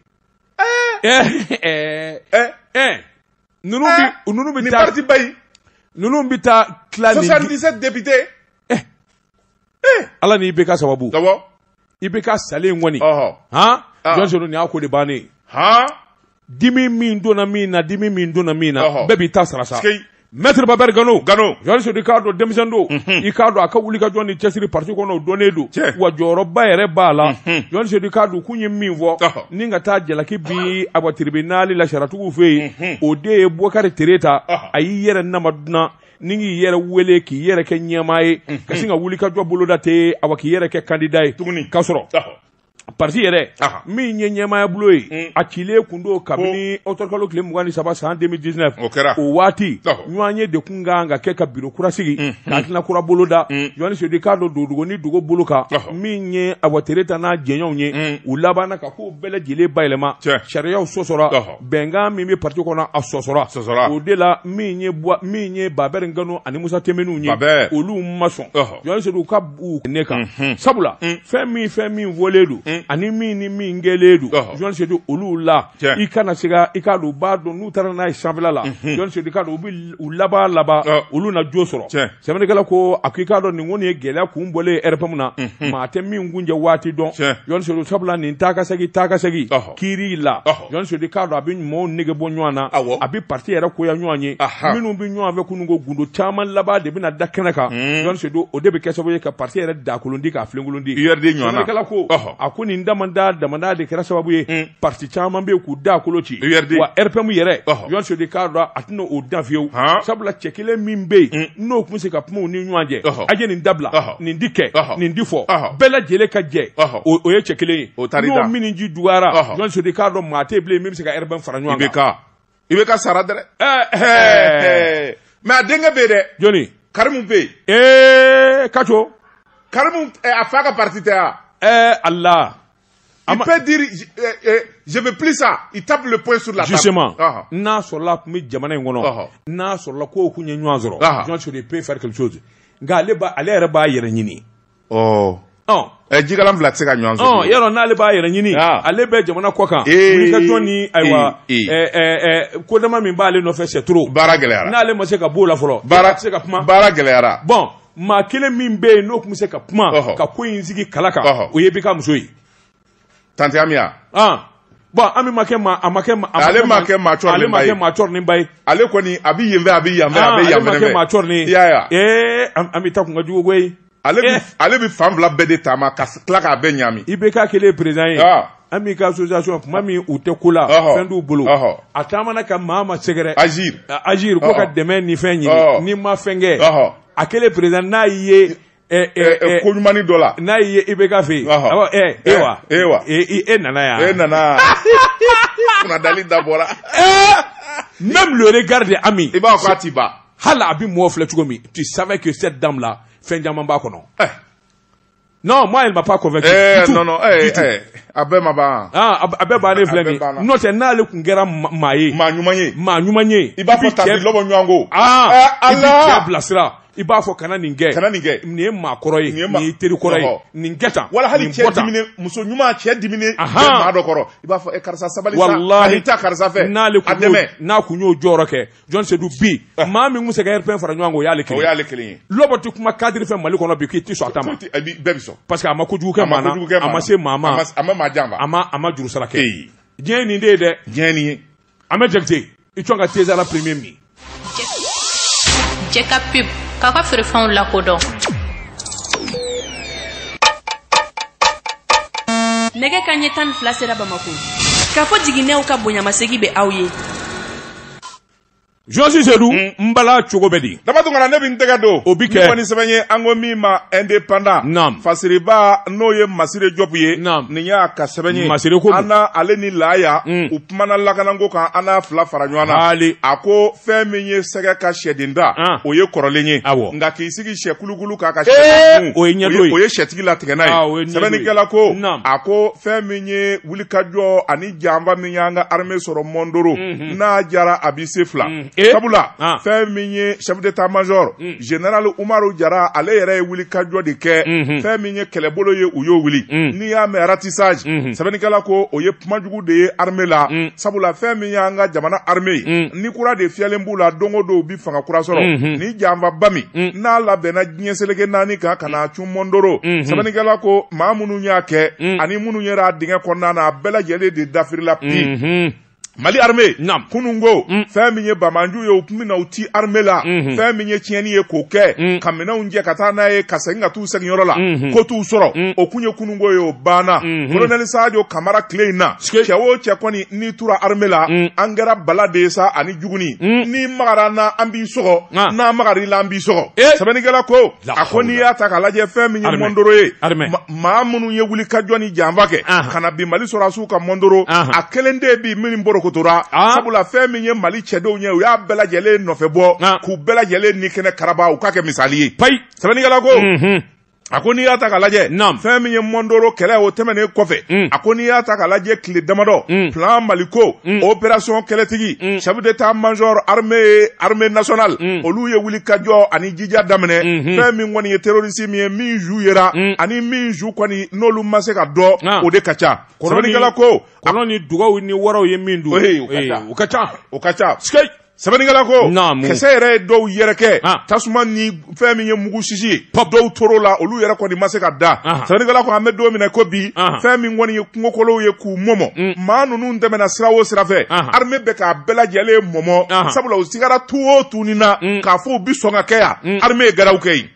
S1: Ninnu bɛ taa
S2: ninnu bɛ taa
S1: kidise depite ala ni ibk sababu ibk salen kɔni jɔni nin y'a ko de bannen dimi min donna min na dimi min donna min na bɛɛ b'i ta sara sa Mɛtri babɛri gano jɔn sedu k'a dɔn denmisɛn don i k'a dɔn a ka wulikajɔ ni cɛsiri parti kɔnɔ o dɔnnen don wa jɔyɔrɔba yɛrɛ b'a la jɔn sedu k'a dɔn k'u ye min fɔ ni ka taa jalaki bi awa tiribinali la sariyatigiw fɛ yen o de ye bukari tereta a y'i yɛrɛ nama dunan ni k'i yɛrɛ wele k'i yɛrɛ kɛ ɲɛmaa ye ka sin ka wulikajɔ boloda ten awa k'i yɛrɛ kɛ kandida ye tuguni ka sɔrɔ Pati yɛrɛ min ye ɲɛmaaya bulon ye a cilen kun don kabini ɔtɔburukalo tile mugan ni saba san demili disinɛfu o waati ɲɔgɔnye de kun kan ka kɛ ka biro kura sigi ka hakilina kura boloda jɔni sedu k'a dɔn dogo ni dogo bolo kan min ye awa tereta n'a jɛɲɔgɔnw ye u labanna ka ko bɛɛ lajɛlen bayɛlɛma sariyaw sɔsɔra bɛnkan min bɛ pati kɔnɔ a sɔsɔra o de la min ye babɛri gano ani musa tinbinɛw ye olu ma sɔn Jɔn sedu ka bɛn a kan sabula fɛn min fɛn min fɔlen don ani min ni min kɛlen don jɔn sedu olu la i kana siga i k'a dɔn u b'a dɔn n'u taara n'a ye sanfɛla la jɔn sedu k'a dɔn u bɛ u laban laban olu na jo sɔrɔ sɛbɛnnikɛla ko a ko i k'a dɔn nin kɔni ye gɛlɛya kun bɔlen rpm na maa tɛ min kuncɛ waati dɔn jɔn sabula nin taakasegin taakasegin kiiri la jɔn sedu k'a dɔn a bɛ ɲumanw nege bɔ ɲɔgɔn na a bɛ parti yɛrɛ koya ɲɔgɔn ye minnu bɛ ɲɔgɔn fɛ kunun ko gundo caman laban de bɛna da kɛnɛ kan hmm. jɔn sedu o de bɛ kɛ sababu ye ka parti yɛrɛ dakolondi k'a filenkolondi sɛbɛnnikɛla ko a ko nin damanda damanda de kɛra sababu ye hmm. parti caman bɛ k'u dakolo ci wa rpm yɛrɛ jɔn sedu k'a dɔn a tɛna o dan fiyewu sabula cɛ kelen min bɛ yen mm. n'o tun bɛ se ka kuma u ni ɲɔgɔn cɛ a ye nin dabila nin di kɛ nin di fɔ bɛɛ lajɛlen ka jɛ o ye cɛ kelen ye n'o minji dɔgɔyara jɔn sedu k'a dɔn maa tɛ bilen min bɛ se ka rpm fara ɲɔgɔn kan ibk sara
S2: dɛ mɛ a denkɛ bɛ yen dɛ jɔni karimu bɛ yen ee kaco
S1: karimu
S2: a fa ka pariti tɛ wa ɛɛ ala
S1: Il
S2: peut dire je, euh, euh, je veux plus ça. Il tape le poing sur la table. Justement. Ah, ah.
S1: N'a sɔrɔla tun bɛ jamana in kɔnɔ. Ah, n'a sɔrɔla k'o kun ye ɲɔgɔn sɔrɔ. Jɔsi Sedu il peut faire quelque chose. Nka ale b'a ale yɛrɛ b'a yɛrɛ ɲini. Ɔ. Ɔ. Ɛ
S2: jikalan fila tɛ se ka ɲɔgɔn suma. O yɔrɔ n'ale b'a yɛrɛ
S1: ɲini. Ale bɛ jamana kɔ kan. Wulikajɔ ni ayiwa ɛɛ kodama min b'ale nɔfɛ c'est trop. Baara gɛlɛyara. N'ale ma se
S2: ka b'o la fɔlɔ.
S1: Baara tɛ se ka kuma. Baara gɛlɛyara. Bon.
S2: maa
S1: kelen min bɛ yen n'o tun bɛ se ka kuma ka ko in sigi kala kan
S2: o ye
S1: IBK muso ye tanti Ami bon Ami ma kɛ maa a ma kɛ ale ma kɛ maa cɔrɔ ale
S2: ma kɛ maa cɔrɔ ni ba
S1: ye ale kɔni a
S2: bɛ yen fɛ a bɛ yan fɛ a bɛ yan fɛ ale ma kɛ maa cɔrɔ ni
S1: ya
S2: ee Ami ta
S1: kun ka jugu koyi ale bɛ ale bɛ
S2: fan fila bɛɛ de taama ka tila k'a bɛɛ ɲami IBK kɛlen président ye
S1: Ami ka association maa minnu tɛ ko la fɛn t'u bolo a taamana ka maa ma sɛgɛrɛ Agir ko ka dɛmɛ ni fɛn ɲini ni ma fɛnkɛ a kɛlen président n'a ye ko
S2: ɲuman dɔ la n'a ye IBK fɛ
S1: yen e wa e wa e nana yan e
S2: nana dalen da
S1: bɔra même le regard d'Ami i b'a fɔ a t'i ba
S2: hali a bɛ mɔgɔ filɛ
S1: cogo min tu savais que cette dame là fɛn caman b'a kɔnɔ non moi elle m'a pas convaincu eh, non non
S2: eh, eh, a bɛɛ ma ban ah, a bɛɛ bannen
S1: filɛ nin n'o tɛ n'ale tun kɛra maa ye maa ɲuman ye maa
S2: ɲuman ye i b'a fɔ tanti Lɔbɔ
S1: ɲɔgɔn ko
S2: ah, eh, i bɛ cɛ
S1: bilasira i b'a fɔ kana nin kɛ kana nin kɛ nin ye maa kɔrɔ ye nin ye teri kɔrɔ ye nin kɛ tan wala hali cɛ
S2: diminen muso ɲuman cɛ diminen maa dɔ kɔrɔ i b'a fɔ eh, karisa sabali sa wala i taa karisa fɛ n'ale kun n'a
S1: kun y'o jɔyɔrɔ kɛ Jɔsi Sedu bi ah. maa min bɛ se ka RPM fara ɲɔgɔn kan o y'ale kelen o y'ale kelen ye lɔbɔ tɛ kuma cadre fɛ mali kɔnɔ bi k'i ti sɔn a ta ma bɛɛ bɛ sɔn parce que
S2: a ma kojugu kɛ
S1: maa na a ma se maa ma a ma maa janfa a ma
S2: a ma juru sara kɛ
S1: diɲɛ ye nin de ye dɛ diɲɛ ye nin ye an bɛ jakite i cɔn ka teza la premier min
S3: Jɛka pub k'a ka feerefɛnw lakodɔn nɛgɛ kanɲɛ tan ni fila sera bamakɔ k'a fɔ jiginnɛw ka bonyamasegi bɛ aw ye
S1: Jɔsi sedu mm. n bala cogo bɛ di dama tun kana ne bɛ n tɛgɛ
S2: don o bɛ kɛ ni sɛbɛn
S1: ye an ko
S2: min ma Indépendant fasiriba n'o ye Masire Jɔbu ye nin y'a ka sɛbɛn ye Masire ko an ale
S1: ni laaya
S2: mm. u kumana lakanako kan an n'a fila fara ɲɔgɔn na a ko fɛn min ye sɛgɛ ka sɛden ta ah. o ye kɔrɔlen ye nka k'i sigi sɛ kulukulu kan ka sɛ o ye ɲɛ o ye
S1: sɛtigi latigɛ n'a
S2: ye ah, sɛbɛnnikɛla ko a ko fɛn min ye wulikajɔ ani janfa min y'an ka armée sɔrɔ Mondoro mhm. n'a jara a bɛ se fila mhm. eh? sabula ah. fɛn min ye chef d'état major mhm. général Umaru Jara ale yɛrɛ ye wulikajɔ de kɛ fɛn min ye kɛlɛbolo ye u y'o wuli n'i y'a mɛn ratissage sɛbɛnnikɛla ko o ye kuma jugu de ye armée la sabula fɛn min y'an ka jamana armée ye ni kura de fiyɛlen b'u la don o don u bɛ fanga kura sɔrɔ ni janfaba min n'a labɛnna diɲɛ seleke naani kan ka na cun mɔndoro mm -hmm. sɛbɛnnikɛla ko maa minnu y'a kɛ mm. ani minnu yera dingɛ kɔnɔna na a bɛɛ lajɛlen de dafirila pi mm -hmm. mali arme kunun ko mm. fɛn min ye bamanju ye u tun bɛna u ti arme la mm -hmm. fɛn min ye tiɲɛni ye k'o kɛ mm. ka minɛnw cɛ ka taa n'a ye ka segin ka t'u sigiyɔrɔ la mm -hmm. ko t'u sɔrɔ mm. o tun ye kunun ko ye o banna mm -hmm. kolonɛli sajo kamara tile in na cɛ o cɛ kɔni n'i tura arme la mm. an kɛra bala de ye sa ani juguni mm. n'i magar'an na an b'i sɔgɔ ah. n'an magar'i la an b'i sɔgɔ eh. sɛbɛnnikɛla ko a ko n'i y'a ta k'a lajɛ fɛn min ye mɔndoro ye maa minnu ye wuli ka jɔ ni janfa kɛ ka na bin mali sɔrɔsiw kan mɔndoro a kelen tɛ bi min porokotora sabula fɛn min ye mali cɛdenw ye u y'a bɛɛ lajɛlen nɔfɛ bɔ k'u bɛɛ lajɛlen ni kɛnɛ karaba u k'a kɛ misali ye payi sɛbɛnnikɛla ko mhm. a ko n'i y'a ta k'a lajɛ fɛn min ye mɔndoro kɛlɛ o tɛmɛnen kɔfɛ mm. a ko n'i y'a ta k'a lajɛ tile damadɔ mm. plan maliko mm. opération kɛlɛtigi mm. chef d'état major armée armée nationale mm. olu ye wuli kajɔ ani jija daminɛ mm -hmm. fɛn min kɔni ye terroriste min ye min su yera mm. ani min su kɔni n'olu ma se ka dɔn ah. o de ka ca sɛbɛnnikɛla ko kɔnɔ ni dugaw ni
S1: waraw ye min dun o ka ca o ka ca o ka ca
S2: sɛbɛnnikɛla ko naamu kisɛ yɛrɛ ye dɔw yɛrɛkɛ ah. tasuma ni fɛn min ye mugu sisi ye dɔw toro la olu yɛrɛ kɔni ma se ka dan ah. sɛbɛnnikɛla ko an bɛ don min na ko bi ah. fɛn min kɔni ye kungokolow ye k'u mɔmɔ mm. maa ninnu tɛmɛna sira o sira fɛ arme bɛ k'a bɛɛ lajɛlen mɔmɔ sabula u sigara tu o tunin na mm. k'a fɔ u bi sɔn ka kɛ yan mm. arme ye gɛrɛw kɛ yen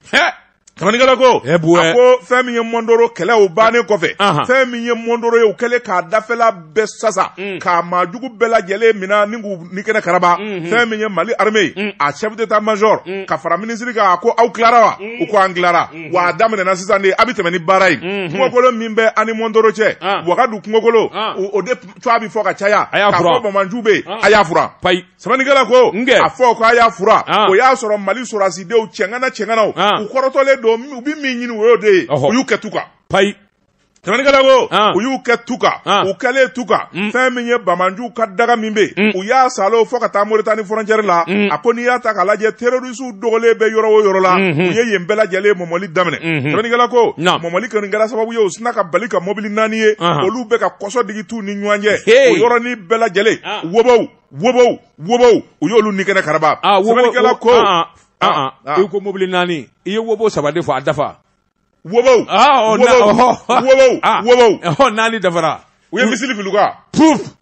S2: Sɛbɛnnikɛla ko eh, a ko fɛn min ye mɔndoro kɛlɛ o bannen kɔfɛ fɛn min ye mɔndoro ye u kɛlen k'a dafɛla bɛɛ sasa mm. k'a maajugu bɛɛ lajɛlen mina ani k'u ni kɛnɛ karaba mm-hmm. fɛn min ye mali armée mm. a chef d'état major mm. ka fara minisiri kan a ko aw tilara wa u ko an tilara mm-hmm. wa a daminɛna sisan de a bɛ tɛmɛ ni baara ye mm-hmm. kungokolo min bɛ a ni mɔndoro cɛ ah. wagadu kungokolo ah. o de tɔgɔ bɛ fɔ ka caya k'a fɔ bamanju bɛ yen ah. a y'a furan sɛbɛnnikɛla ko nkɛ a fɔ k'a y'a furan ah. o y'a sɔrɔ mali sɔrɔdasidenw cɛŋana cɛŋanaw ah. u kɔrɔtɔlen don u bɛ min ɲini o y'o de ye u y'u kɛ tu kan payi sɛbɛnnikɛla ko ah. u y'u kɛ tu kan ah. u kɛlen tu kan mm. fɛn min ye bamanjuw ka daga min bɛ yen mm. u y'a saalo fo ka taa moritani fɔrɔncɛri la mm. a ko n'i y'a ta k'a lajɛ terorisiw dogolen bɛ yɔrɔ o yɔrɔ la mm-hmm. u ye yen bɛɛ lajɛlen mɔmɔli daminɛ mm-hmm. sɛbɛnnikɛla ko mɔmɔli kɔni kɛra sababu ye u sina ka bali ka mɔbili naani ye ah. olu bɛ ka kɔsɔ digi t'u ni ɲɔgɔn cɛ o yɔrɔnin bɛɛ lajɛlen wobow wobow wobow u y'olu ni kɛnɛ karaba ah, sɛbɛnnikɛla ko ah, ah,
S1: i ko mobili naani i ye wobo saba de fɔ a dafa wobow wobow wobow naani dafara
S2: u ye misili fil'u kan puf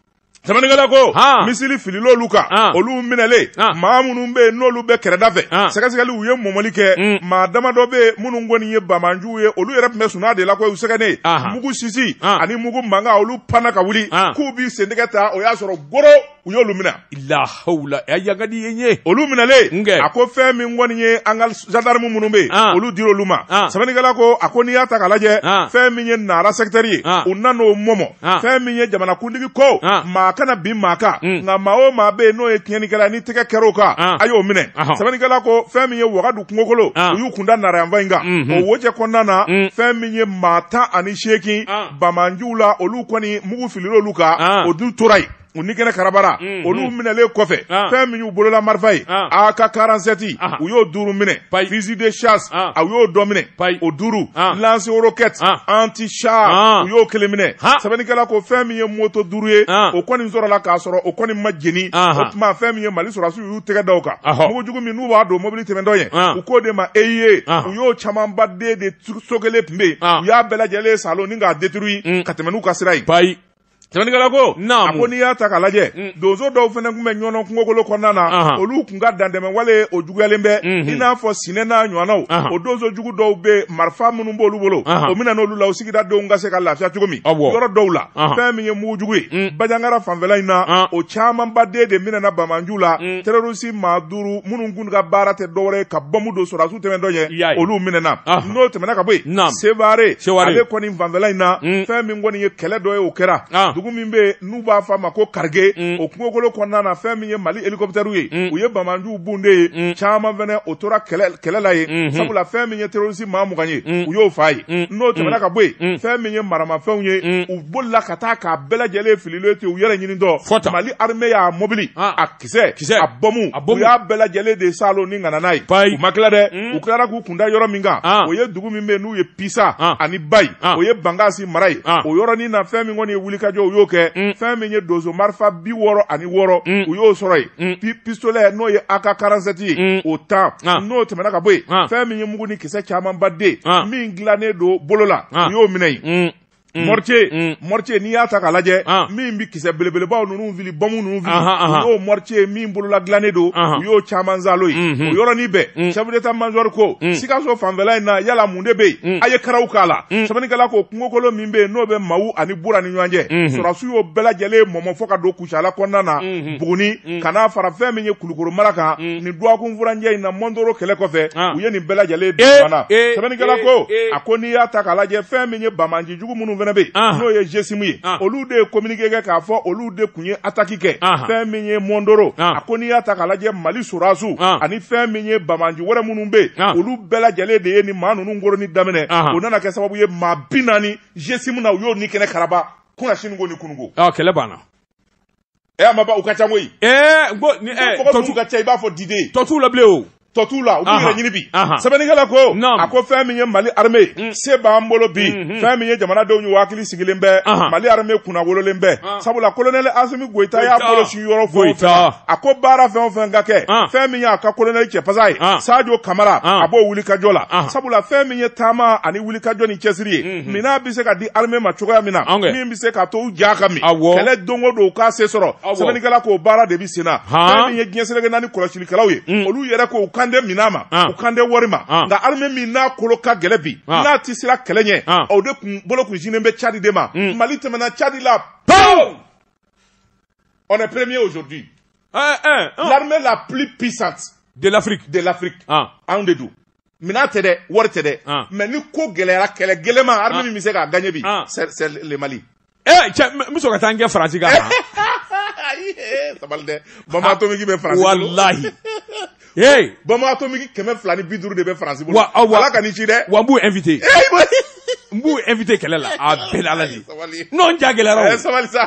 S1: sɛbɛnnikɛla ko
S2: misili filil'olu kan olu minɛlen maa minnu bɛ yen n'olu bɛ kɛrɛda fɛ sɛgɛsɛgɛli u ye mɔmɔli kɛ mm. maa damadɔ bɛ yen minnu kɔni ye bamanjuw ye olu yɛrɛ tun bɛ sunaa de la ko u sɛgɛnnen mugu sisi ani mugu mankan olu panna ka wuli k'u b'i sentɛgɛ ta o y'a sɔrɔ Goro u y'olu minɛ
S1: lahawula a yagadi ye ye olu
S2: minɛlen a ko fɛn min kɔni ye an ka zandarmu minnu bɛ yen olu dira olu ma sɛbɛnnikɛla ko a ko n'i y'a ta k'a lajɛ fɛn min ye nara sɛkitɛri ye u nan'o mɔmɔ fɛn min ye jamanakuntigi ko maa kana bin maa kan nka maa o maa bɛ yen n'o ye tiɲɛnikɛla ni tɛgɛ kɛr'o kan a y'o minɛ sɛbɛnnikɛla ko fɛn min ye wagadu kungokolo u y'u kun da nara yanfan in kan o wo cɛ kɔnɔna na fɛn min ye maa tan ani seegin banbaanciw la olu kɔni mugu filila olu kan ah. o dun tora yen u ni kɛnɛ karabara mm, olu mm. minɛlen kɔfɛ ah. fɛn min y'u bolola marifa ye ah. AK quarante-sept ah. u y'o duuru minɛ fusil de chasse ah. a y'o dɔ minɛ Pai. o duuru ah. lance roquette ah. anti char ah. u y'o kelen minɛ ah. sɛbɛnnikɛla ko fɛn min ye moto duuru ye ah. o kɔni sɔrɔla k'a sɔrɔ o kɔni ma jeni ah. o tuma fɛn min ye mali sɔrɔdasiw y'u tɛgɛ da o kan mugu jugu min n'u b'a don mobili tɛmɛtɔ ɲɛ ah. u k'o de ma EEI ah. u y'o camanba den de so kelen tun bɛ yen u y'a bɛɛ lajɛlen salon ni k'a détruire ka tɛmɛ n'u ka sira ye bayi sɛbɛnnikɛla ko a ko n'i y'a ta k'a lajɛ mm. donso dɔw fana tun bɛ ɲɔnɔn kungokolo kɔnɔna na olu tun ka dantɛmɛwale o juguyalen bɛ mm-hmm. i n'a fɔ sinɛ n'a ɲɔgɔnnaw o donso jugu dɔw bɛ marifa minnu b'olu bolo o minɛna olu la o sigida denw ka se ka lafiya cogo min yɔrɔ dɔw la fɛn min ye mugujugu ye mm. bajangara fanfɛla in na o camanba den de minɛna banbaanciw la mm. terɔrisi maa duuru minnu minnu ka baara tɛ dɔwɛrɛ ye ka bɔmu don sɔrɔdasiw tɛmɛtɔ ɲɛ olu minɛna n'o tɛmɛna ka bɔ yen sevare ale kɔni fanfɛla in na mm. fɛn min kɔni ye kɛlɛ dɔ ye o kɛra ah. dugu min bɛ yen n'u b'a fɔ a ma ko karige mm. o kungokolo kɔnɔna na fɛn min ye mali hélicoptère ye mm. u ye banbaanciw bon de yen caman fɛnɛ o tora kɛlɛ la yen mm-hmm. sabula fɛn min ye terɔrisi maa mugan ye u y'o fa yen n'o tɛmɛna ka bɔ yen fɛn min ye maramafɛnw ye u bolila ka taa k'a bɛɛ lajɛlen fililen to u yɛrɛ ɲinitɔ mali armée y'a mobili ah. kisɛ kisɛ a bɔmu a bɔmu u y'a bɛɛ lajɛlen de salo ni ŋana n'a ye bayi u ma tila dɛ mm. u tilara k'u kun da yɔrɔ min kan ah. o ye dugu min bɛ n'u ye pisa ah. ani bayi ah. o ye bankasi mara ye ah. o yɔrɔnin na fɛn min kɔni ye wulikajɔ u y'o kɛ mm. fɛn min ye donso marifa bi wɔɔrɔ ani wɔɔrɔ mm. u y'o sɔrɔ yen mm. pi pistolɛ n'o ye AK quarante-sept ye mm. o tan ah. n'o tɛmɛna ka bɔ yen ah. fɛn min ye mugu ni kisɛ camanba den ah. min dilannen don bolo la ah. u y'o minɛ yen mm. Mm. Mortier, mm. mortier n'i y'a ta k'a lajɛ ah. min bɛ kisɛ belebelebaw ninnu fili bɔmu ninnu fili u y'o mortier min bolola dilannen don u y'o caman zalo ye mm-hmm. o yɔrɔnin bɛɛ mm. chef d'état major ko Sikaso fanfɛla in na yala mun de bɛ yen a ye karaw k'a la sɛbɛnnikɛla ko kungokolo min bɛ yen n'o bɛ Mawu ani Bura ni ɲɔgɔn cɛ mm-hmm. sɔrɔdasiw y'o bɛɛ lajɛlen mɔmɔ fo ka don Kucala kɔnɔna na Buguni ka n'a fara fɛn min ye Kulukoro mara kan nin dɔgɔkun furancɛ in na Mondoro kɛlɛ kɔfɛ u ye nin bɛɛ lajɛlen de ban a sɛbɛnnikɛla ko a ko n'i y'a ta k'a lajɛ fɛn min ye banbaanci jugu minnu fɛnɛ bɛ yen n'o ye GSIM ye olu de ye communiqué kɛ k'a fɔ olu de tun ye attaque kɛ fɛn min ye Mondoro a ko n'i y'a ta k'a lajɛ Mali sɔrɔdasiw ani fɛn min ye banbaanci wɛrɛ minnu bɛ yen olu bɛɛ lajɛlen de ye nin maa ninnu koronni daminɛ o nana kɛ sababu ye maa bi naani GSIM na u y'o ni kɛnɛ karaba kunasini ko ni kununko ɔ kɛlɛ
S1: banna
S2: ɛ a ma ban u ka ca koyi ɛɛ n ko ni ɛ tɔgɔ tɔtu minnu ka ca i b'a fɔ diden tɔ t'u la bilen o
S1: tɔ t'u la u b'u Aha. yɛrɛ ɲini
S2: bi Aha. sɛbɛnnikɛla ko Naam. a ko fɛn min ye mali arme ye se b'an bolo bi fɛn min ye jamanadenw y'u hakili sigilen bɛ Aha. mali arme kunna wololen bɛ Ah. sabula kolonɛli asimi goyita y'a Goyita. bolo si yɔrɔ fɔ o Goyita. fɛn a ko baara fɛn o fɛn ka kɛ Ah. fɛn min y'a ka kolonɛli cɛpasa ye Ah. sajo kamara Ah. a b'o wulikajɔ la Aha. sabula fɛn min ye taama ani wulikajɔ ni cɛsiri ye Mhm. minɛn bɛ se ka di armée ma cogoya min na min bɛ se ka to u ja ka min kɛlɛ don o don u ka se sɔrɔ sɛbɛnnikɛla k'o baara de bɛ sen na fɛn min ye diɲɛ seleke naani kɔlɔsilikɛlaw ye mm. olu yɛrɛ k'u kan tɛ minɛn ma u kan tɛ wari ma nka armée min n'a kolo ka gɛlɛn bi n'a tɛ siran kɛlɛ ɲɛ o de kun bolo kun sinnen bɛ Tchad de ma mm. Mali tɛmɛna Tchad la pewu on est premier aujourd'hui eh, eh, oh. l'armée la plus puissante de l'Afrique de
S1: l'Afrique
S2: anw de don Minɛn tɛ dɛ wari tɛ dɛ ah. mais ni ko gɛlɛyara kɛlɛ gɛlɛnman armée ah. min bɛ se k'a gagner bi c'est le mali eh, n bɛ
S1: ka taa n kɛ faransi kan eh,
S2: sabali dɛ bombe atomique bɛ faransi walahi bombe atomique kɛmɛ fila ni bi duuru de bɛ faransi bolo ala ka nin ci dɛ wa n b'u invité eh,
S1: n b'u invité kɛlɛ la a bɛɛ la Ala de ye Sabali. non n ja gɛlɛyara o. Eh, sabali
S2: sa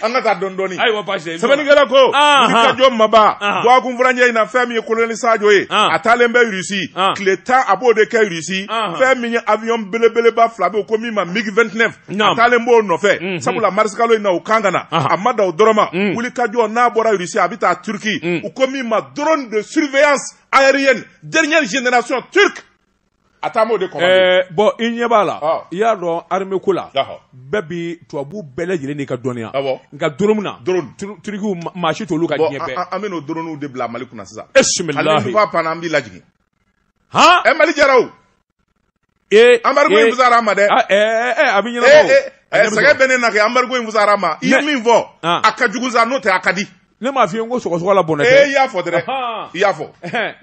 S2: an ka taa dɔɔni dɔɔni ayiwa baasi tɛ. sɛbɛnnikɛla
S1: ko
S2: Ah, wulikajɔ ma ban Ah. dɔgɔkun furancɛ in na fɛn min ye kolonɛli sajo ye Ah. a taalen bɛ irisi Ah. tile tan a b'o de kɛ irisi Ah. fɛn min ye avion belebeleba fila bɛ yen ko min ma mig 29 a Naam. taalen b'o nɔfɛ sabula marisikalo in na u kan ka na Ah. a ma da o dɔrɔn ma wulikajɔ n'a bɔra irisi a bɛ taa turki u ko min ma drone de surveillance aérienne dernière génération turque a taa o de commander bon i ɲɛ b'a
S1: la i y'a dɔn armée ko la bɛɛ bi tubabu bɛɛ lajɛlen n'i ka dɔnniya nka drone na turikiw maa si t'olu kan diɲɛ an bɛ dronew de bila
S2: mali kunna sisan i panna
S1: an b'i
S2: lajigin hɔn e mali jara o ee embargo in fisar'an ma dɛ a bɛ
S1: ɲɛnabɔ sɛgɛ bɛ ne na kɛ
S2: embargo in fisar'an ma i ye min fɔ a ka jugu sa n'o tɛ a ka di ne m'a f'i ye n ko
S1: sɔgɔsɔgɔ la bɔnɛ tɛ. ee i y'a fɔ
S2: dɛrɛ i y'a fɔ.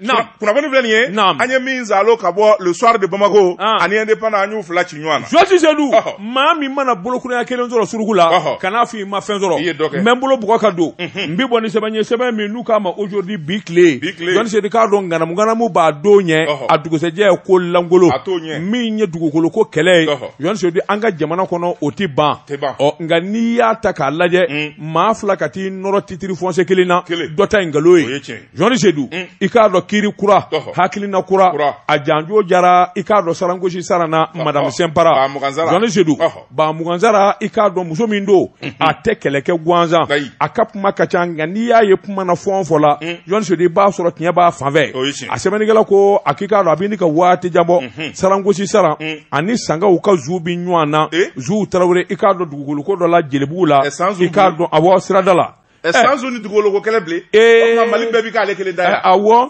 S2: naam kunnafoni filɛ nin ye. naam an ye min zalo ka bɔ le soir de bamako. ani indépendant an y'u fila ci ɲɔgɔn na. jɔsi sedu maa
S1: min mana bolokuru ɲa kelen sɔrɔ suruku la. kan'a f'i ma fɛn sɔrɔ. i ye dɔ kɛ n bɛ n bolo bugɔ ka don. n bɛ bɔ ni sɛbɛn ye sɛbɛn min n'u k'a ma aujourd'hui bi tile. bi tile jɔsi sedu k'a dɔn ŋanamu ŋanamu b'a don ɲɛ. a dugusɛjɛ ye ko lankolon. a t'o ɲɛ min ye dugukolo ko kɛlɛ ye. jɔsi sedu an ka jamana kɔnɔ o tɛ ban. tɛ ban ɔ nka n'i y'a ta k'a lajɛ. maa fila ka t'i nɔrɔ titiri fɔnse kelen na dɔ ta ye nkalon ye journaliste Sedu mm. i k'a dɔn kiiri kura hakilina kura a janjo jara i k'a dɔn sarangosi sarana madamu sinpara journaliste Sedu ba mugansara i k'a dɔn muso min don mm-hmm. a tɛ kɛlɛ kɛ gansan a ka kuma ka ca nka n'i y'a ye kuma na fɔn fɔ la mm. journaliste Sedu i b'a sɔrɔ tiɲɛ b'a fan fɛ a sɛbɛnnikɛla ko a k'i k'a dɔn a bɛ ɲini ka waati jan bɔ mm-hmm. sarangosi saran mm. ani sankaw ka zu bi ɲɔgɔn na eh? zu tarawele i k'a dɔn dugukolo dɔ la jelibugu la k'a dɔn a sirada la sanzu ni dugukolo kɛlɛ bilen mali bɛɛ bɛ k'ale kelen da yan awɔ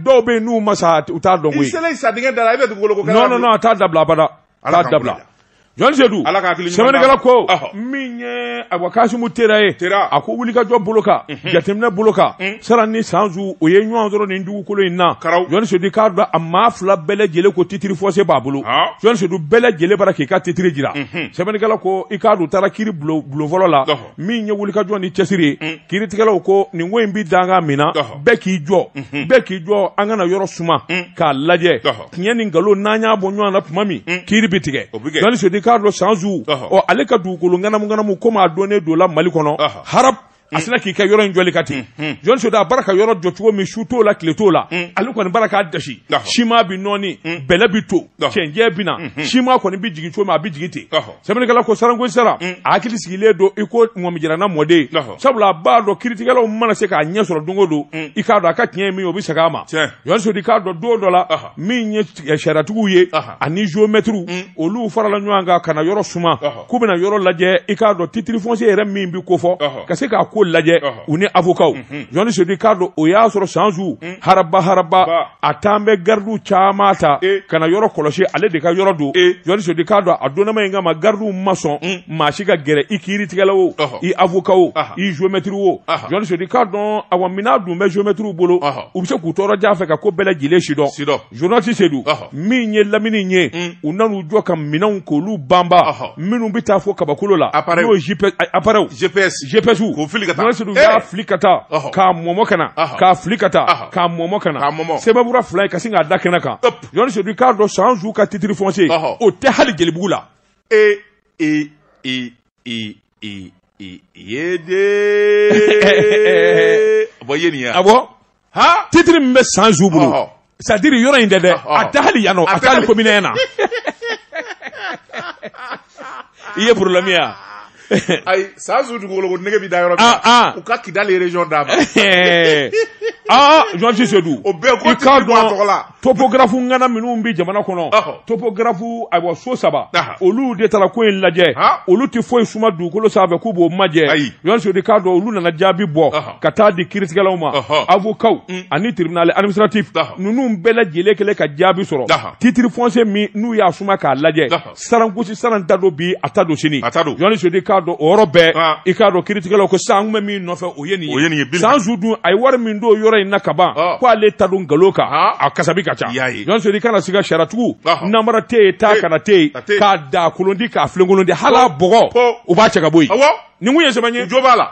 S1: dɔw bɛ yen n'u ma sa u t'a dɔn koyi i sa dingɛ da la
S2: i bɛ dugukolo kɛlɛ non non non a t'a dabila
S1: abada a t'a dabila journaliste Sedu sɛbɛnnikɛla ko min ye ayiwa kasimu tera ye a ko wulikajɔ bolo kan jateminɛ bolo kan saran ni sanzu u ye ɲɔgɔn sɔrɔ nin dugukolo in na journaliste Sedu i k'a dɔn a maa fila bɛɛ lajɛlen ko titiri fɔnse b'a bolo journaliste Sedu u bɛɛ lajɛlen bara k'i ka titiriri jira mhm. sɛbɛnnikɛla ko i k'a dɔn u taara kiiri bulon fɔlɔ la min ye wulikajɔ ni cɛsiri mhm. kiiritigɛlaw ko nin ko in bɛ danga min na bɛɛ k'i jɔ mhm. bɛɛ k'i jɔ an ka na yɔrɔ suma k'a lajɛ tiɲɛ ni nkalon n'an y'a bɔ ɲɔgɔn na tuma min kiiri bɛ tigɛ journaliste Sedu i k'a dɔn sanzu ɔ ale ka dugukolo ŋanamu ŋanamu komi a dɔnnen don la mali kɔnɔ harap a sinna k'i kɛ yɔrɔ in jɔli kan ten journaliste Sedu a bara ka yɔrɔ jɔ cogo min su t'o la tile t'o la ale kɔni bara k'a dasi siman bi nɔɔni bɛlɛ bi to cɛncɛn bi na siman kɔni bi jigin cogo min a bi jigin ten sɛbɛnnikɛla ko sarangosi saran a hakili sigilen don i ko ŋɔmijiranna mɔden sabula a b'a dɔn kiiritigɛlaw mana se k'a ɲɛ sɔrɔ don o don i k'a dɔn a ka tiɲɛ ye min o bi segin a ma journaliste Sedu i k'a dɔn don dɔ la min ye sariyatigiw ye ani geomɛtiriw olu farala ɲɔgɔn kan ka na yɔrɔ suma k'u bɛna yɔrɔ lajɛ i k'a dɔn titre foncier yɛrɛ min bɛ kofɔ ka se k'a ko lajɛ u ni avokaw mhm. journaliste Sedu i k'a dɔn o y'a sɔrɔ san zu mhm. haraba haraba a tun bɛ gardiw caman ta e. ka na yɔrɔ kɔlɔsi ale de ka yɔrɔ don e. journaliste Sedu i k'a dɔn a donnama in kama gardiw ma sɔn mhm. maa si ka gɛrɛ i kiiritigɛla o i avocat o i géomètre o journaliste Sedu i k'a dɔn awa minan dun bɛ géomètrew bolo u bɛ se k'u to yɔrɔ jan fɛ ka ko bɛɛ lajɛlen sidɔn journaliste Sedu min ye lamini ye mm. u nan'u jɔ ka minɛnw k'olu banba minnu bɛ taa fo kabakolo la n'o ye appareil GPS GPS k'o fili ka taa journaliste Sedu y'a fili ka taa k'a mɔmɔ ka na k'a fili ka taa k'a mɔmɔ ka na sɛbɛnbura fila ye ka sin k'a da kɛnɛ kan journaliste Sedu k'a dɔn san zu ka titre foncier o tɛ hali jelibugu la ee ee ee i i i
S2: ye de bɔ ye nin ya a bɔ ha
S1: titiri min bɛ san zu bolo Ɔhɔ. c'est-à-dire yɔrɔ in tɛ dɛ Ɔhɔ. a tɛ hali yan nɔ a A tɛ tɛ hali hali- komini na i ye problème ye wa
S2: ayi san zu dugukolo ko nege bɛ da yɔrɔ min Ah, ah. na u ka kidali region d'a ma aa
S1: journaliste Sedu o bɛɛ ko i k'a titiri bɔ a
S2: dɔn tɔgɔ la topographe ŋana
S1: minnu bɛ jamana kɔnɔ topographe ayiwa so saba olu de taara ko in lajɛ olu tɛ foyi suma dugukolo sanfɛ k'u b'o ma journaliste Seydou k'a dɔn olu nana jaabi bɔ ka taa di kiiritigɛlaw ma avocatw mm. ani tribunal administratif ninnu bɛɛ lajɛlen kɛlen ka jaabi sɔrɔ titre foncier min n'u y'a suma k'a lajɛ sarankusi saran ta don bi a ta don sini a ta don journaliste Seydou k'a dɔn o yɔrɔ bɛɛ ah. i k'a dɔn kiritigɛlaw ko sisan an kun bɛ min nɔfɛ o ye nin ye o ye nin ye sanzu dun a ye wari min don yɔrɔ in na ka ban ah. ko ale ta don nkalon kan ah. a kasabi ka ca journaliste Seydou kana siga sariyatigiw namara tɛ yen taa kana tɛ yen k'a da kolon di k'a filenkolon di hali a bɔgɔ o b'a cɛ ka bɔ yen nin kun ye sɛbɛn ye jo b'a la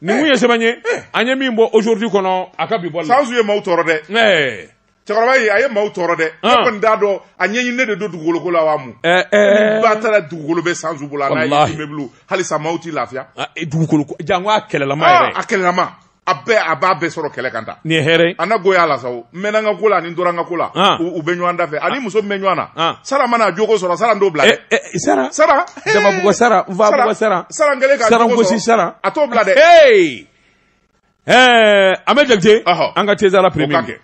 S2: nin kun ye
S1: sɛbɛn ye an ye min bɔ aujourd'hui kɔnɔ a ka bi bɔ la sanzu ye maaw tɔɔrɔ dɛ
S2: cɛkɔrɔba ye a ye maaw tɔɔrɔ dɛ ne ah. kɔni t'a dɔn a ɲɛɲininen de don dugukolo ko la wa mun eh, eh. ba taara dugukolo bɛ sanzu bolo n'a ye immeuble halisa maaw t'i lafiya ah, eh, dugukolo ko jango
S1: a kɛlɛlama ah, yɛrɛ a kɛlɛlama a
S2: bɛɛ a b'a bɛɛ sɔrɔ kɛlɛ kan ta nin ye hɛrɛ an na
S1: goya la sa o
S2: n mɛnna n ka ko la ani n tora n ka ko la u bɛ ɲɔgɔn da fɛ ani muso min bɛ ɲɔgɔn na sara mana jogo sɔrɔ sara n t'o bila dɛ sara sara damabugɔ sara
S1: nfabugɔ sara sara n kɛlen ka jogo
S2: sɔrɔ sara a t'o bila dɛ
S1: Ɛɛ an bɛ jakite an ka tɛzsara pe
S3: kɛ